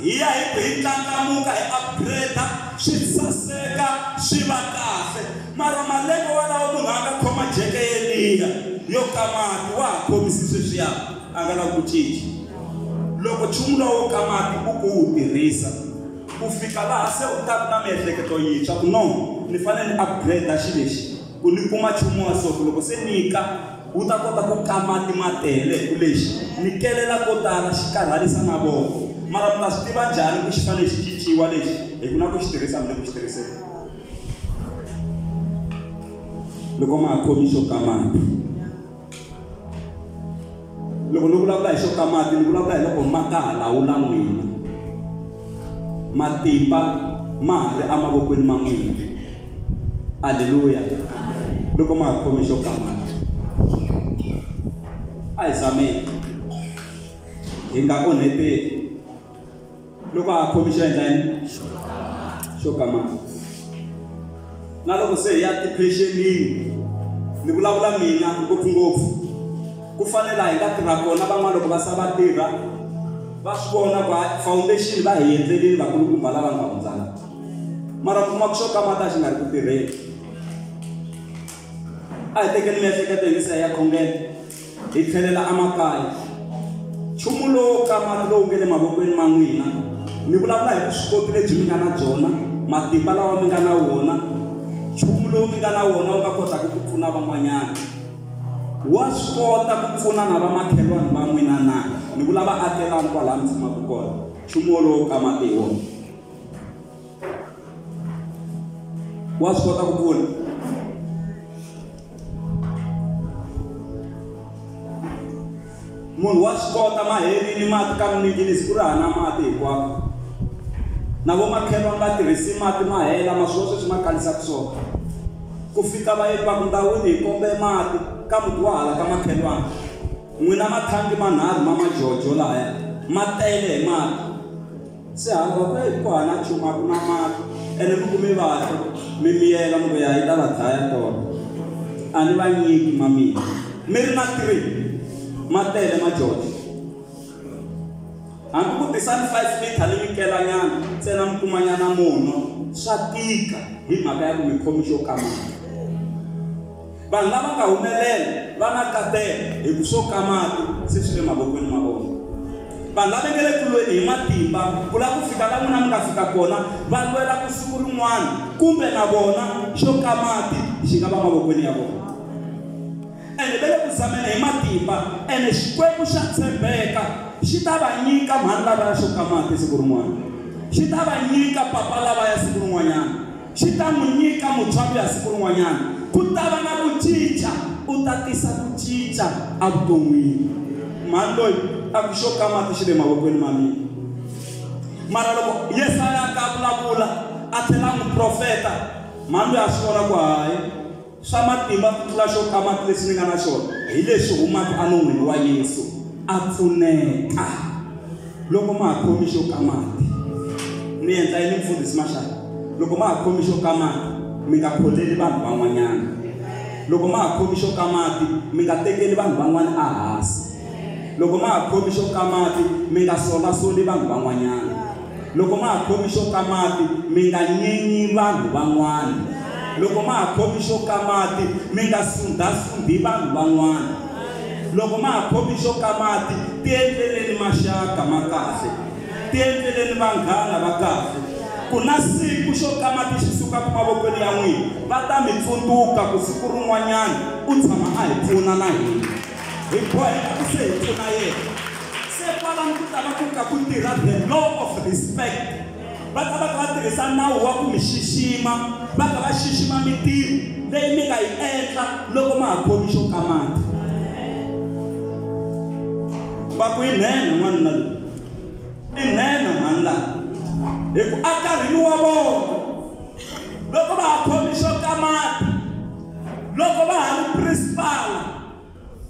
hi ya hi ku hi ndlandlamuka hi upgrade swi saseka swi va kahle mara malembe walawo munhu a nga khoma jeke yeliya yo kamati wa ha khomisi sweswiya a nga lavi ku cinca loko nchumu lowo kamati u ku wu tirhisa ku fika laha se u ta ku na miehleketo yintshwa ku no ni fanele ni upgrade xi lexi ku ni kuma nchumu wa soko loko se nyika wu ta kota ku kama timatele hi ku lexi ni kelela ko tala xi karhalisa mavoko mara mi ta swi tiva njhani ku xi fanele xi cinciwa lexi hi ku na ku xi tirhisa mi le ku xi tirhiseni loko ma ha khomi xo kamata loko ni vulavula hi swo ka mati ni vulavula hi loko ma ka ha lawula n'wina matimba ma ha ri emavokweni ma n'wina aleluya loko ma ha khome xo ka mati a hi zameni hi nga onheteli loko a ha khomi xo endla yini xo kamaka na loko se hi ya tiphexenini ni vulavula mina ngopfungopfu ku fanela hi nga tirha kona van'wana loko va sa va tirha va swi vona ku foundation va hi endlelini vakulukumba lava nga hundzana mara kuma ku xo kamata xi nga ri ku tirheni a hi tekeni miehleketo hi misa ya khongela Hi tlhelela emakaya. Nchumu lowo kamala lowu nge le mavokweni ma n'wina, mi vulavula hi vuswikoti lebyi mi nga na byona, matimba lawa mi nga na wona, nchumu lowu mi nga na wona wu nga kotaka ku pfuna van'wanyana. Wa swi kota ku pfuna na vamakhelwani va n'wina na? Ni vula vaakelani kwalaha mi tshamaka kona. Nchumu wolowo u kamate hi wona. wa swi kota ku vula munhu wa swi kota mahelini mati ka miningilisi ku ri hana mati hinkwako na vo makhelwani va tirhisi mati ma hela ma swo sweswi ma kalisaka swona ku fika va yi vaku ndhawini hi kombe mati ka muti wa hala ka makhelwani n'wina mathangi manharhu ma majojo lahaya ma tele hi mati Se hamba kwee ku hana nchumu a ku na mali ene mi ku mi vabya mi miyela mi ku ya yi ta va dlaya tona a ni va nyiki ma mina mi ri na three ma tele ma jojo hambi ku tisani five liter ni mi kelanyana ntsena mi kumanyana munwa swa tika hi mhaka ya ku mi khomi xo kamaka Vanhu lava nga humelela va na nkateko hi ku swo ka mati se swi le mavokweni ma vona. Vanhu lava nge le ku lweni hi matimba ku lava ku fika la n'wina mi nga fika kona va lwela ku siku rin'wana kumbe na vona xo ka mati xi nga va mavokweni ya vona. Ene va le ku zameni hi matimba, ene Xikwembu xa tshembeka xi ta va nyika mhani lavaya xo ka mati siku rin'wana, xi ta va nyika papa lavaya siku rin'wanyana. xi ta n'wi nyika mutswalo ya siku rin'wanyana. Ku ta va na ku cinca, u ta tisa ku cinca evuton'wini. Mhani loyi a ku, Xo ka mati xi le mavokweni ma mina. Mara loko Yesaya a ta a vulavula a tlhela a n'wi profeta, mhani loyi a swi vona ku hayi, Swa matimba ku tlula xo kamati lexi ni nga na xona hi lexi humaka enon'wini wa Yesu, a pfuneka. Loko ma ha khomi xo kamati, ni endla yini Mufundhisi Mashaka? Loko ma ha khomi xo kamati, mi nga kholeli vanhu van'wanyana. Loko ma ha khomi xo kamati, mi nga tekeli vanhu van'wana ehansi. Loko ma ha khomi xo kamati, mi nga solasoli vanhu van'wanyana. Loko ma ha khomi xo ka mati, mi nga nyenyi vanhu van'wana. Loko ma ha khomi xo ka mati, mi nga sundha-sundhi vanhu van'wana. Loko ma ha khomi xo ka mati, tiendleleni maxaka ma kahle. Tiendleleni vanghana va kahle. Ku na siku xo ka mati xi sukaka mavokweni ya n'wina, va ta mi tsundzuka ku siku rin'wanyana u tshama a hi pfuna na hina. Hi boheka ku se hi pfuna yena. se kwalano ku ta va ku ka ku tirha the law of respect va ta va ka va tirhisa nawu wa ku mi xixima va ka va xixima mitirho leyi mi nga yi endla loko ma ha khomi xo kamata va ku yi nhenha n'wanuna loyi i nhenha mhani laha hi ku a karhini wa vona loko va ha khomi xo kamata loko va ha ri principal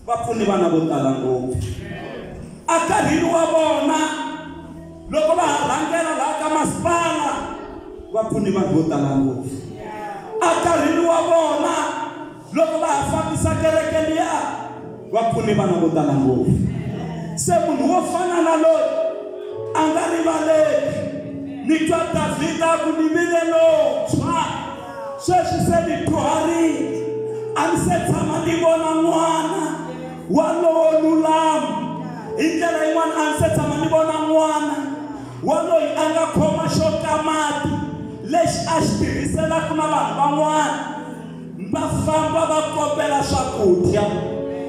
va pfune vana vo tala ngopfu akarhini wa vona loko va ha rhangela laha ka masipala va pfune vanhu vo tala ngopfu akarhini wa vona loko va ha fambisa kereke liya va pfune vana vo tala ngopfu se munhu wo fana na loyi a nga rivaleki ni twa davhida ku ni vile lontshwa sweswi se ni dyuharile a ni se tshama ni vona n'wana walowo lulama hi ndlela yin'wana a ni se tshama ni vona n'wana waloyi a nga khoma xo kamati lexi a xi tirhiselaka na vanhu van'wana va famba va kombela swakudya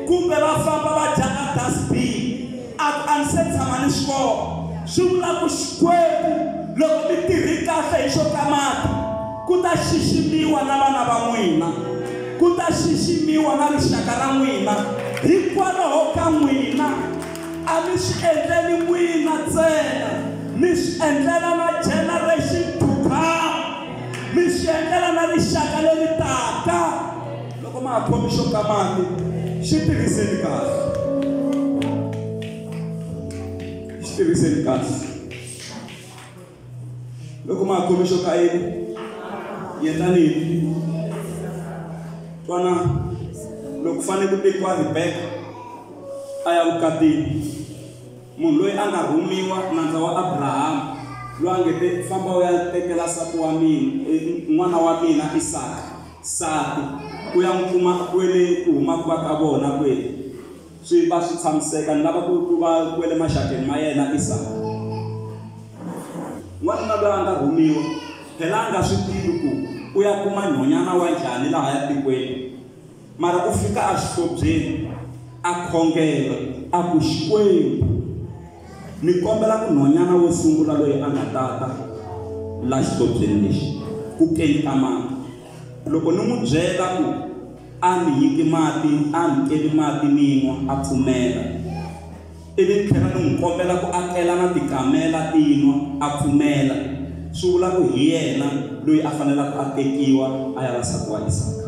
kumbe va famba va dyaka dasbini A ku a ni se tshama ni swi vona. Swi vula ku Xikwembu loko mi tirhi kahle hi swo ta mati, ku ta xiximiwa na vana va n'wina, ku ta xiximiwa na rixaka ra n'wina. Hikwalaho ka n'wina, a mi swi endleli n'wina ntsena, mi swi endlela na generation to come, mi swi endlela na rixaka leri taka. loko ma ha khomi xo ka mati xi tirhiseni kahle xi tirhiseni kahle loko ma ha khomi xo ka yini yendlani yini twana loko fanele ku tekiwa ribeka a ya vukatini munhu loyi a nga rhumiwa nandza wa abrahamu loyi a nge te famba u ya tekela sati wa mina n'wana wa mina isaka Nsati, ku ya n'wi kuma kwele ku huma ku va ka vona kwele, swi va swi tshamiseka, ni lava ku ku va kwele maxakeni ma yena Isaka. N'wanuna loyi a nga rhumiwa, phela a nga swi tivi ku u ya kuma nhonyana wa njhani lahaya tikweni, mara u fika a xihlobyeni, a khongela, a ku, Xikwembu! Ni kombela ku nhwanyana wo sungula loyi a nga ta ta la xihlobyeni lexi ku kenta mati. Loko ni n'wi byela ku a ni nyiki mati, a ni keli mati ni nwa, a pfumela. Ivi ni tlhela ni n'wi kombela ku a tlela na tikamela ti nwa, a pfumela. Swi vula ku hi yena loyi a fanelaka a tekiwa a ya va nsati wa Isaka.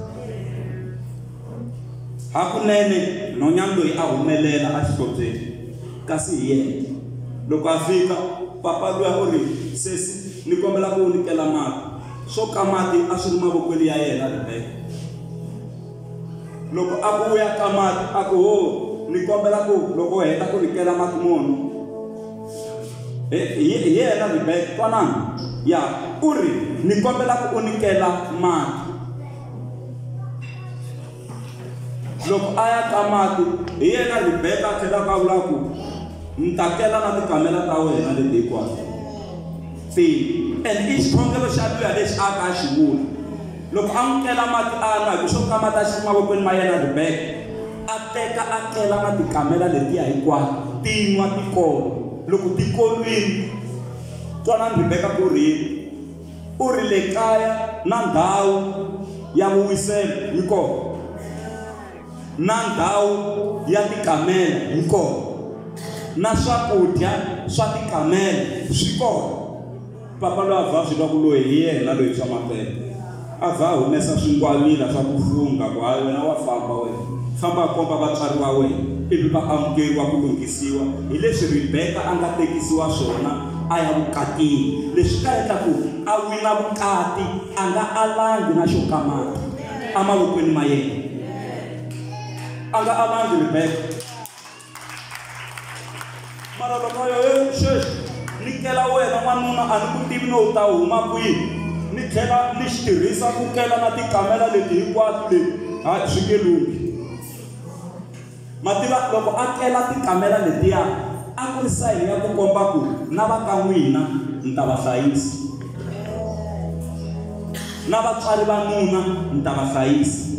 Hakunene nhonyani loyi a humelela exihlobyeni, kasi hi yena. Loko a fika, papa luya u ri, Sesi, ni kombela ku u ni kela mati. Swo ka mati a swi ri mavokweni ya yena Rebeka. Loko a ku u ya ka mati, a ku, Ho, ni kombela ku loko u heta ku ni kela mati mo nwa. Hi hi- hi yena Rebeka, twanana? Ya, u ri, Ni kombela ku u ni kela mati. loko a ya ka mati hi yena ribeka a tlhelaka a vula ku ni ta tela na tikamela ta wena leti hinkwato se and i xikhongelo xa luya lexi a ka a xi vula loko a n'wi tlela mati a nwa hi ku swo ka mati a xi mavokweni ma yena ribeka a teka a tlela na tikamela letiya hinkwato ti nwa tikolo loko tikolwini twanani ribeka ku ri U ri le kaya na ndhawu ya vuwiselo yi kona, na ndhawu ya tikamela yi kona, na swakudya swa tikamela swi kona. Papa loyi a vha swi twa ku loyi hi yena loyi swa mampela. A vha a humesa swingwavila swa ku fungha ku, Hayi wena wa famba wena. Famba a komba vatswari va wena, ivi va amukeriwa ku lunghisiwa hi leswi Ribeka a nga tekisiwa swona a ya vukatini, leswi ta endla ku a wina vukati a nga alangi na xo ka mati emavokweni ma yena. A nga alangi Rebeka. Mara loko a yo, he sweswi ni kela wena n'wanuna a ni ku tivi no u ta huma kwihi, ni tlhela ni xi tirhisa ku kela na tikamela leti hinkwato leti, hayi swi nge lunghi. Ma tiva, loko a kela tikamela letiya, a ku ri sayini ya ku komba ku na va ka n'wina ni ta va hlayisa, na vatswari va nuna ni ta va hlayisa.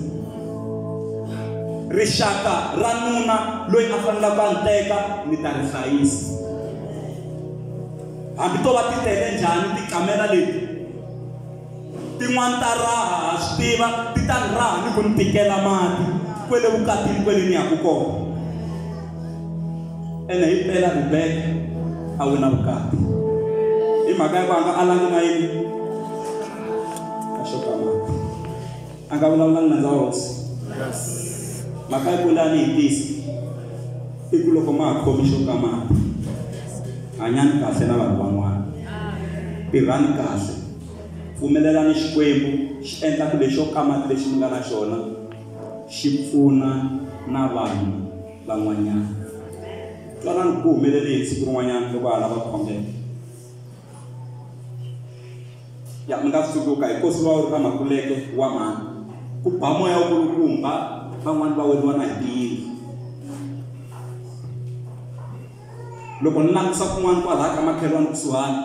Rixaka ra nuna loyi a fanelaka a ni teka ni ta ri hlayisa. Hambi to va ti tele njhani tikamela leti, Tin'wana ta raha, ha swi tiva, ti ta ni raha ni ku ni tikela mati kwele vukatini kwele ni yaku kona. Ene hi mpela Ribeka a wina vukati. Hi mhaka ya ku a nga alangi na yini? A nga vulavulanga nandza wa hosi. Mhaka yi kula ni hitisi. I ku loko ma ha khomi xo ka mati, hanyani kahle na vanhu van'wana. Tirhani kahle. Pfumelelani Xikwembu xi endla ku lexo ka mati lexi mi nga na xona xi pfuna na vanhu van'wanyana. Twanani ku ku humelele yini siku rin'wanyana loko ha lava ku khongela. Ya, mi nga tsundzuka hi nkosi wa Uri na Makuleke wa mhani. Ku ba moya wa kulukumba, van'wana va weriwa na hi tiyindlu. Loko ni langusa kun'wana kwalaha ka makhelwani kusuhani,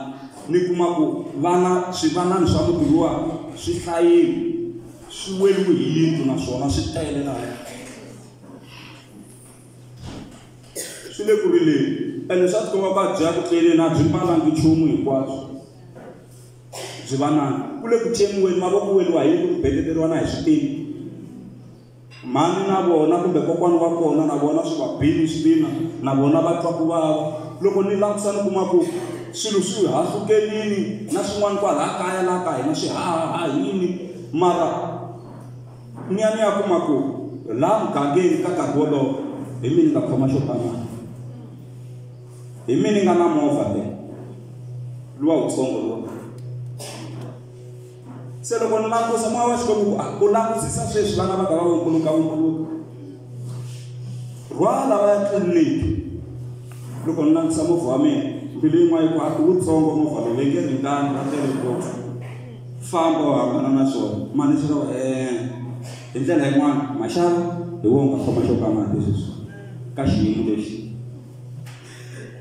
ni kuma ku vana swivanani swa muti luwa swi hlayile swi weriwe hi yindlu naswona swi tele lahaya. swi le ku rileni ene swa tikomba ku a byi ya ku tleleni a byi mbalangi nchumu hinkwabyo byi va nani ku le ku cemiweni mavoko weriwa hi ku beteteriwa na hi swipini mhani na vona kumbe kokwana wa kona na vona swi va bini swipina na vona va twa ku vava loko ni langusa ni kuma ku swilo swi hahlukelini na swin'wana kwalaha kaya laha ka hina swi hahaha yini mara Ni ya ni ya kuma ku laha mugangeni ka nkarhi wolowo hi mina ni nga khoma xo ba mali. Hi mina ni nga na movha leyi, luwa wutsongo luwa. Se loko ni langusa moya wa Xikwembu wu ku, ah, u langusisa sweswi vana va nga va vumbuluka-vumbuluka. Rhwala va ya tliliniki. Loko ni langusa movha wa mina, mbilu yin'wana yi ku, ah, i wutsongo movha lowu, va nge ringani, va tele ngopfu. Famba u hambana na swona. Mani swi lava eeh. Hi ndlela yin'wana, maxaka hi wona u nga khoma xo ka mati sweswi ka xiyimo lexi.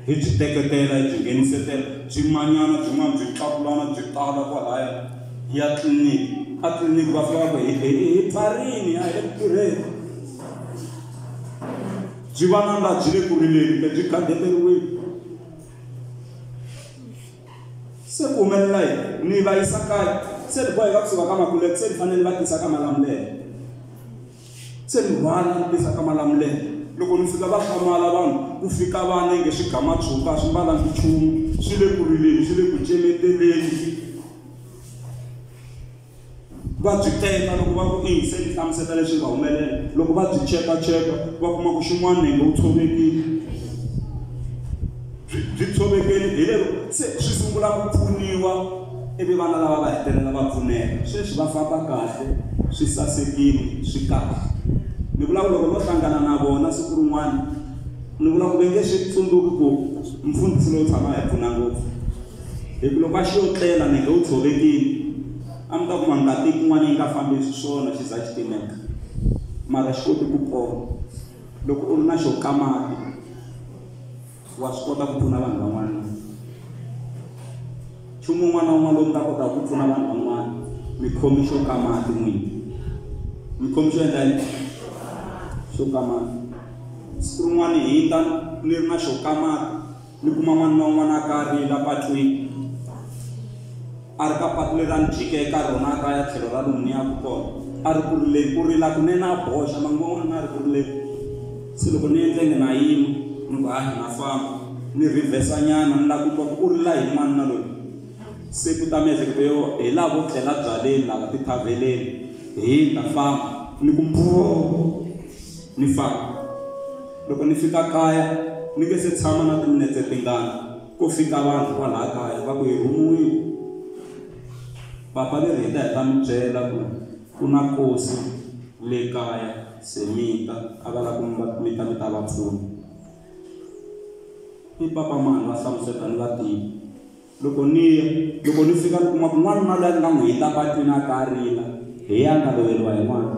Hi byi teketela, hi byi nghenisetela, byi manyana byin'wana byi tlakulana byi tala kwalaya. Hi ya tliliniki, atliliniki va fika va ku hi hi hi pfarile a hi le ku tirheni. Byi va na laha byi le ku rileni kumbe byi gadeteriwile. Se ku humelela yini? Ni va yisa kaya. Se ni boheka ku suka ka Makuleke, se ni fanele ni va tisa ka Malamulele. Se ni rhwala ni tisa ka Malamulele. Loko ni fika va hlamala vanhu, ku fika vana inge swi gama tshuka, a swi mbalanga nchumu, swi le ku rileni, swi le ku cemeteleni. va byi teka loko va ku i yingiseli hlamuseta leswi nga humelela loko va byi chekacheka va kuma ku xin'wana nenge wu tshovekile byi byi tshovekeli hi lero se swi sungula ku pfuniwa ivi vana lava va hetelela va pfuneka sweswi va famba kahle swi sasekile swi kahle ni vula ku loko no hlangana na vona siku rin'wana ni vula ku ve nge swi tsundzuki ku mfundhisi lowu tshama hi pfuna ngopfu Hi ku loko a xi yo tlela Nenge u tshovekile, a mi ta kuma ngati yin'wana yi nga fambi xiswona xi za xi timeka. Mara xi koti ku pona. Loko u ri na xo ka mati, wa swi kota ku pfuna vanhu van'wana na. Nchumu wun'wana na wun'wana lowu mi nga kotaka ku pfuna vanhu van'wana, mi khomi xo ka mati n'wini. Mi khomi xo endla yini? Xo ka mati. Siku rin'wana hi ta ni ri na xo ka mati. Ni kuma n'wana na un'wana a ka a ri la patwini, a ri ka patu leri a ni jike eka rona a ka ya tlhelo ra lomu ni yaka kona, a ri ku rileni, ku rila kunene a boxa, manguva man'wana na ha ri ku rileni. Se loko ni endle ngi na yima, ni ku, Hayi, na famba. Ni rhivhesanyana, ni lava ku twa ku u rila hi yini n'wanuna loyi. Se ku ta miehleketo yo, Hi lava vo tlela byaleni lava, tithavheleni. Hi, ni ta famba. Ni ku, Mbhoo! Ni famba. Loko ni fika kaya, ni nge se tshama na timinetse tingani, ko fika vanhu kwalaha kaya va ku hi rhumiwile. Papa ve ri hi ta hi ta mi byela ku ku na nkosi le kaya, se mi ta, a va lava ku mi va, mi ta mi ta va pfuna. I Papa mani? Va hlamusela, ni va tivi. Loko ni ya, loko ni fika ni kuma ku n'wanuna loyi a ni nga n'wi hindza patwini a ta a rila, hi yena a nga loveriwa hi n'wana.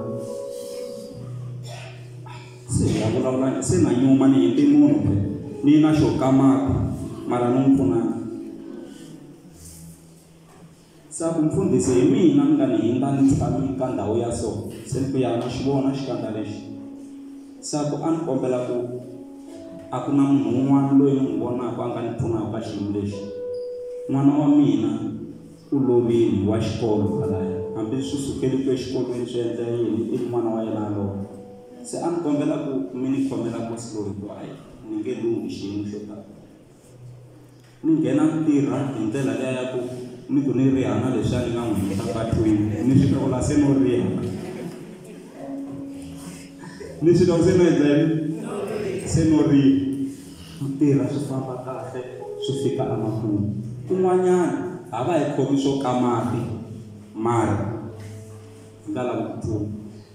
Se hi ya vulavula, se na nyuma ni hindze munhu phela, ni na xo kamata mara ni n'wi pfunanga. Se ku, Mfundhisi, hi mina mi nga ni hindza ni tshami ka ndhawu ya so. Se ni ku, Ya, ma xi vona xikandza lexi? Se ku, A ni kombela ku, a ku na munhu un'wana loyi ni n'wi vonaka a nga ni pfunaka ka xiyimo lexi? N'wana wa mina u lovile, wa xikolo kwalaya, hambi swi sukeli ku exikolweni swi endla yini, ivi n'wana wa yena a lova. Se a ni kombela ku mi ni khomela musi loyi, hikuva, hayi, ni nge lunghi xiyimo xo tano. Ni nghena ni tirha hi ndlela liya ya ku ni ku ni riha na leswiya ni nga n'wi heta patwini, ni swi twa ku la se no riha. Ni swi twa ku se no endla yini? Se no riha. Ni tirha swi famba kahle swi fika emakumu. Kun'wanyana a va hi khomi swo ka mati mara. ndzi nga lavi ku pfuna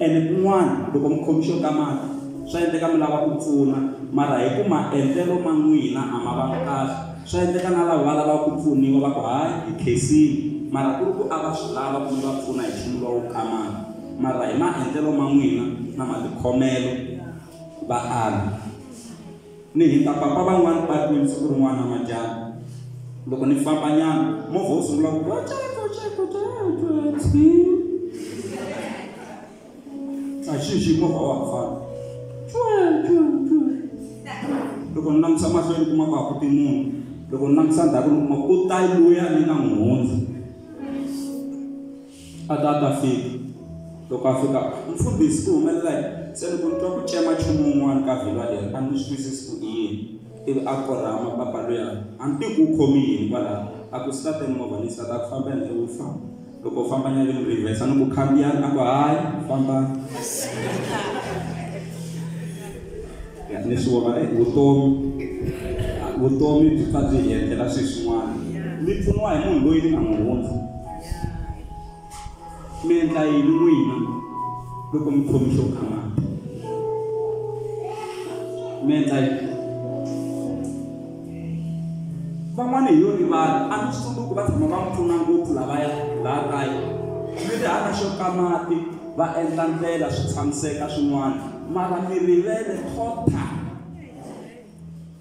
ene kun'wana loko mi khomi xo ka mati swa endleka mi lava ku pfuna mara hi ku maendlelo ma n'wina a ma vangi kahle swa endleka na lava va lavaka ku pfuniwa va ku hayi hi khensile mara ku ri ku a va swi lava ku mi va pfuna hi nchumu lowu ka mati mara hi maendlelo ma n'wina na matikhomelo va ala Ni hindza papa van'wana va ri ni siku rin'wana namadyambu loko ni fambanyana movha wu sungula ku a xi xi movha wa ha fana loko ni langusa mahlweni kuma ku hakuti munhu loko ni langusa ndzhaku ni kuma ku ta luya ni nga n'wi hundza a ta a ta fika loko a fika mfundhisi ku humelela yini se loko ni twa ku cema nchumu wun'wana ka vhilwa leri a ni swi twisisi ku i yini ivi a korhama papa luya a ni tivi ku u khomi yini kwalaho a ku state movha ni state a ku famba endle wu famba loko u famba nyale mi rivesa ni ku khandziyani a ku hayi fambani ni swi vona e vutomi vutomi byi pfa byi hi endlela swilo swin'wana mi pfuniwa hi munhu loyi ni nga n'wi hundza mi endla yini n'wina loko mi khomi xo khamata mi endla yini van'wana hi yo rivala a mi swi tsundzuki va tshama va mi pfuna ngopfu lavaya laha kaya mi ri hana xo ka mati va endla ndlela swi tshamiseka swin'wana mara mi rivele tota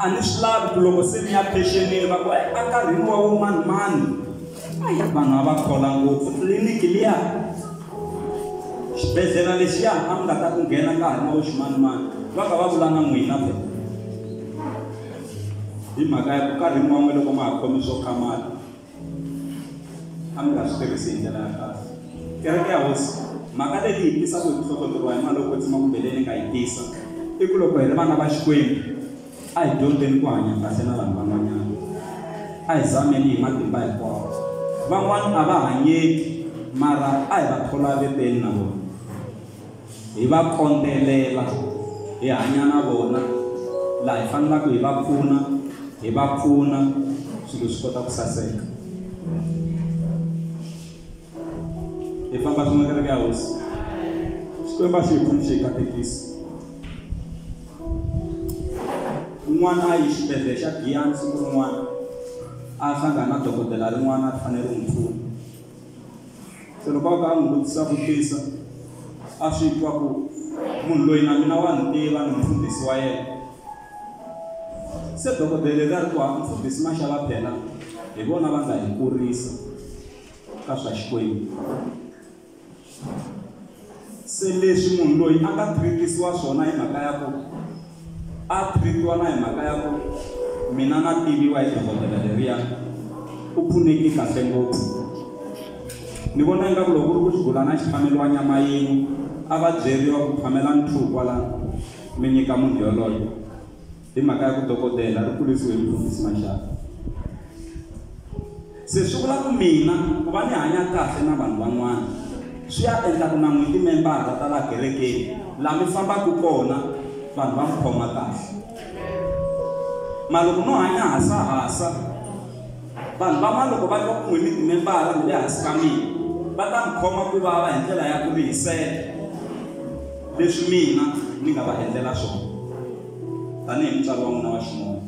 a ni swi lavi ku loko se ni ya phexenini va ku e enkarhini wa vo mani mani ayi vanhu a va khola ngopfu tliliniki liya xibedhlele lexiya a mi nga ta ku nghena ka ha ri na vo ximanimani va ka va vula na n'wina fe hi mhaka ya ku nkarhi n'wan'we loko ma ha khomi swo khamala a mi nga swi tirhisi hi ndlela ya kahle kereke ya hosi mhaka leyi yi tisa ku hi hlohloteliwa hi mali yo kwetsima kumbe leyi ni nga yi tisa i ku loko hi ri vana va xikwembu a hi dyondzeni ku hanya kahle na vanhu van'wanyana a hi zameni hi matimba hinkwawo van'wana a va hanyeki mara a hi va thola veteni na vona hi va kondzelela, hi hanya na vona, laha hi fanelaka hi va pfuna, hi va pfuna swilo swi kota ku saseka. Hi famba swin'we kereke ya hosi. Xikwembu a xi hi pfuni xi hi katekisa. Un'wana a yi xibedhlele xa Giyani siku rin'wana a hlangana na dokodela rin'wana a fanele ri n'wi pfuna. Se loko a ka a n'wi vutisa vutisa, a swi twa ku munhu loyi na mina wa ni tiva ni mufundhisi wa yena. Se dokodele leri a ri ku ha mufundhisi Mashava phela hi vona va nga hi kurisa ka swa Xikwembu. Se leswi munhu loyi a nga thiritiwa swona hi mhaka ya ku a thiritiwa na hi mhaka ya ku mina na tiviwa hi dokodela leriya u pfuneki kahle ngopfu ni vona ingaku loko ku ri ku xi gula na xi phameliwa nyama yin'we a va byeriwa ku phamela ni two kwalano mi nyika munhu yoloye Hi mhaka ya ku dokodela ri kurisiwe hi Mufundhisi Maxaka. Se swi vula ku mina ku va ni hanya kahle na vanhu van'wana swi ya endla ku na n'wi timembara ta laha kerekeni laha mi fambaka kona vanhu va n'wi khoma kahle maloko no hanya hasahasa vanhu van'wana loko va twa ku n'wi mi timembara mi le hansi ka mina va ta n'wi khoma ku vava hi ndlela ya ku rihisela leswi mina ni nga va endlela swona tanihi mutswari wa n'wina wa ximoya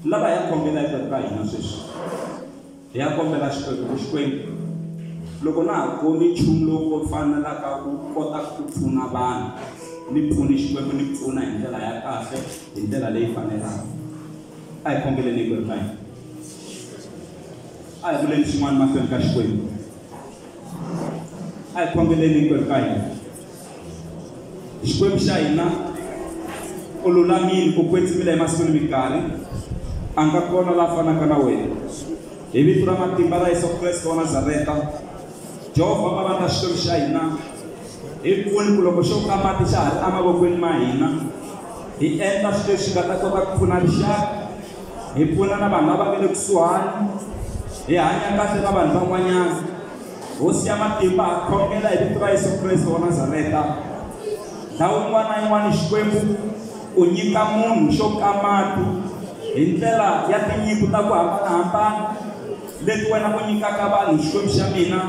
lava hi ya kombela eku ka hina sweswi hi ya kombela xikwembu ku xikwembu loko na ha koni nchumu lowu ko fanelaka ku kota ku pfuna vanhu ni pfuni xikwembu ni pfuna hi ndlela ya kahle hi ndlela leyi fanelaka a hi kombeleni hikwembu ka hina a hi vuleni swin'wana mahlweni ka xikwembu a hi khongeleni hinkwerhu ka hina xikwembu xa hina u lulamile u kwetsimile emasikwini minkarhi a nga kona la fanaka na wena hi vito ra matimba ra yesu kreste wa nazareta jehovha mavana ta xikwembu xa hina hi pfuni ku loko xo ka mati xa ha ri emavokweni ma hina hi endla swilo leswi nga ta kota ku pfuna rixaka hi pfuna na vanhu lava nga le kusuhani hi hanya kahle na vanhu van'wanyana hosi ya matimba ha khongela hi vito ra yesu kreste wa nazareta ndhawu yin'wana na yin'wana xikwembu u nyika munhu xo kamati hi ndlela ya tinyiko ta ku hambanahambana leti wena u nyikaka vanhu xikwembu xa mina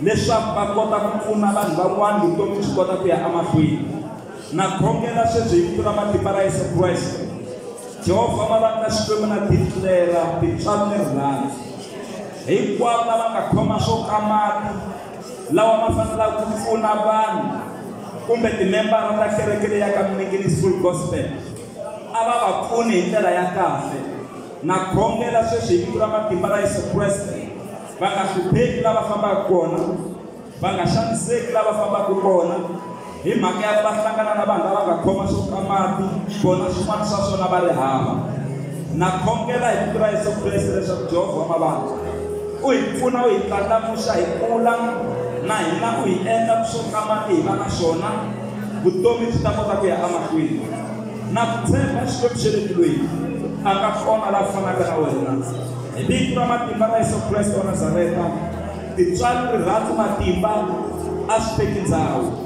leswaku va kota ku pfuna vanhu van'wana vutomi byi kota ku ya emahlweni na khongela sweswi hi vito ra matimba ra yesu kreste Jehovha va va na Xikwembu na Biblela, tintswalo ni rirhandzu. Hinkwavo lava nga khoma swo ka mati lawa ma fanelaka ku pfuna vanhu kumbe timembara ta kereke leyi ya ka Mningini School Gospel a va va pfuni hi ndlela ya kahle. Na khongela sweswi hi vito ra matimba ra Yesu Kreste, va nga hlupheki laha va fambaka kona, va nga xaniseki lava fambaka kona hi mhaka ya va hlangana na vanhu lava nga khoma swo ka mati vona swin'wana swa swona va ri hava na khongela hi vito ra yesu kreste leswaku jehovha wa mavandla u hi pfuna u hi tlandlamuxa hi kula na hina u hi endla swo ka mati hi va na swona vutomi byi ta kota ku ya emahlweni na ku tshemba xikwembu xa le tilweni a nga kona la fanaka na wena hi vito ra matimba ra yesu kreste wa nazareta Tintswalo, rirhandzu, matimba a swi teki ndhawu.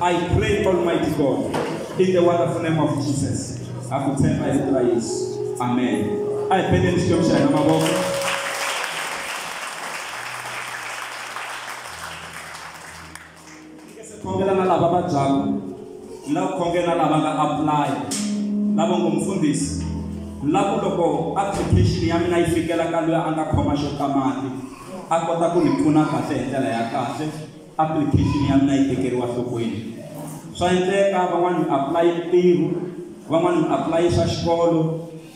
I pray Almighty God in the wonderful name of Jesus. Ha ku tshemba hi vito ra Yesu. Amen. A hi peleni Xikwembu xa hina mavoko. khongela na lava vabyaku ni lava khongela lava nga apply lava ngo mfundhisi lavo loko application ya mina yi fikela ka loyi a nga khoma xo ka mati a kota ku ni pfuna kahle hi ndlela ya kahle application ya mina yi tekeriwa nhlokweni swa endleka van'wani mi apply ntirho van'wani mi apply swa xikolo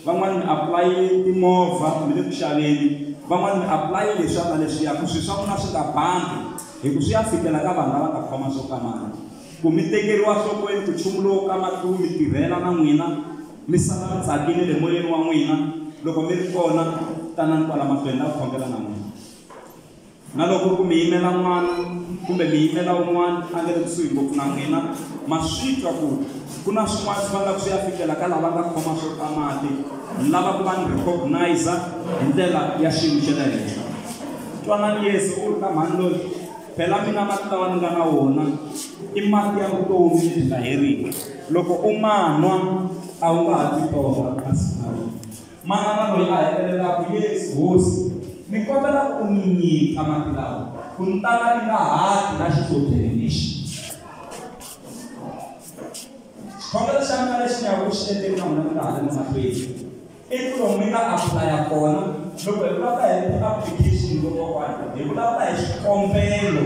van'wani mi apply timovha mi le ku xaveni van'wani mi apply leswiya na leswiya ku swi swa n'wina swi nga bangi Hi ku swi ya fikela ka vanhu lava nga khoma swo kamala, ku mi tekeriwa nhlokweni ku nchumu lowo kama tlu mi tirhela na n'wina, mi sala mi tsakile le moyeni wa n'wina, loko mi ri kona, tanani kwala mahlweni, ni ta ku khongela na n'wina. Na loko ku ri ku mi yimela n'wana, kumbe mi yimela un'wana a nga le kusuhi ngopfu na n'wina, ma swi twa ku ku na swin'wana swi vangaka swi ya fikela ka lava nga khoma swo kamate, ni lava ku va ni recognize hi ndlela ya xiyimo xa le henhla. Twanani Yesu u ri ka mhani loyi, phela mina mati lawa ni nga na wona i mati ya vutomi lebyi nga heriki. Loko u ma nwa a wu nga ha ti torha kasi na wena. Manana loyi a hetelelaka, Yesu Hosi, ni kombela u ni nyika mati lawa ku ni ta ka ni nga ha ti na xithodyeni lexi. Xikhongelo xa mina lexi ni yaka ku xi endleni na n'wina ni nga ha ri ni mahlweni. I ku lomu mi nga apulaya kona loko hi vulavula hi ti-application kokwana hi vulavula hi swikombelo.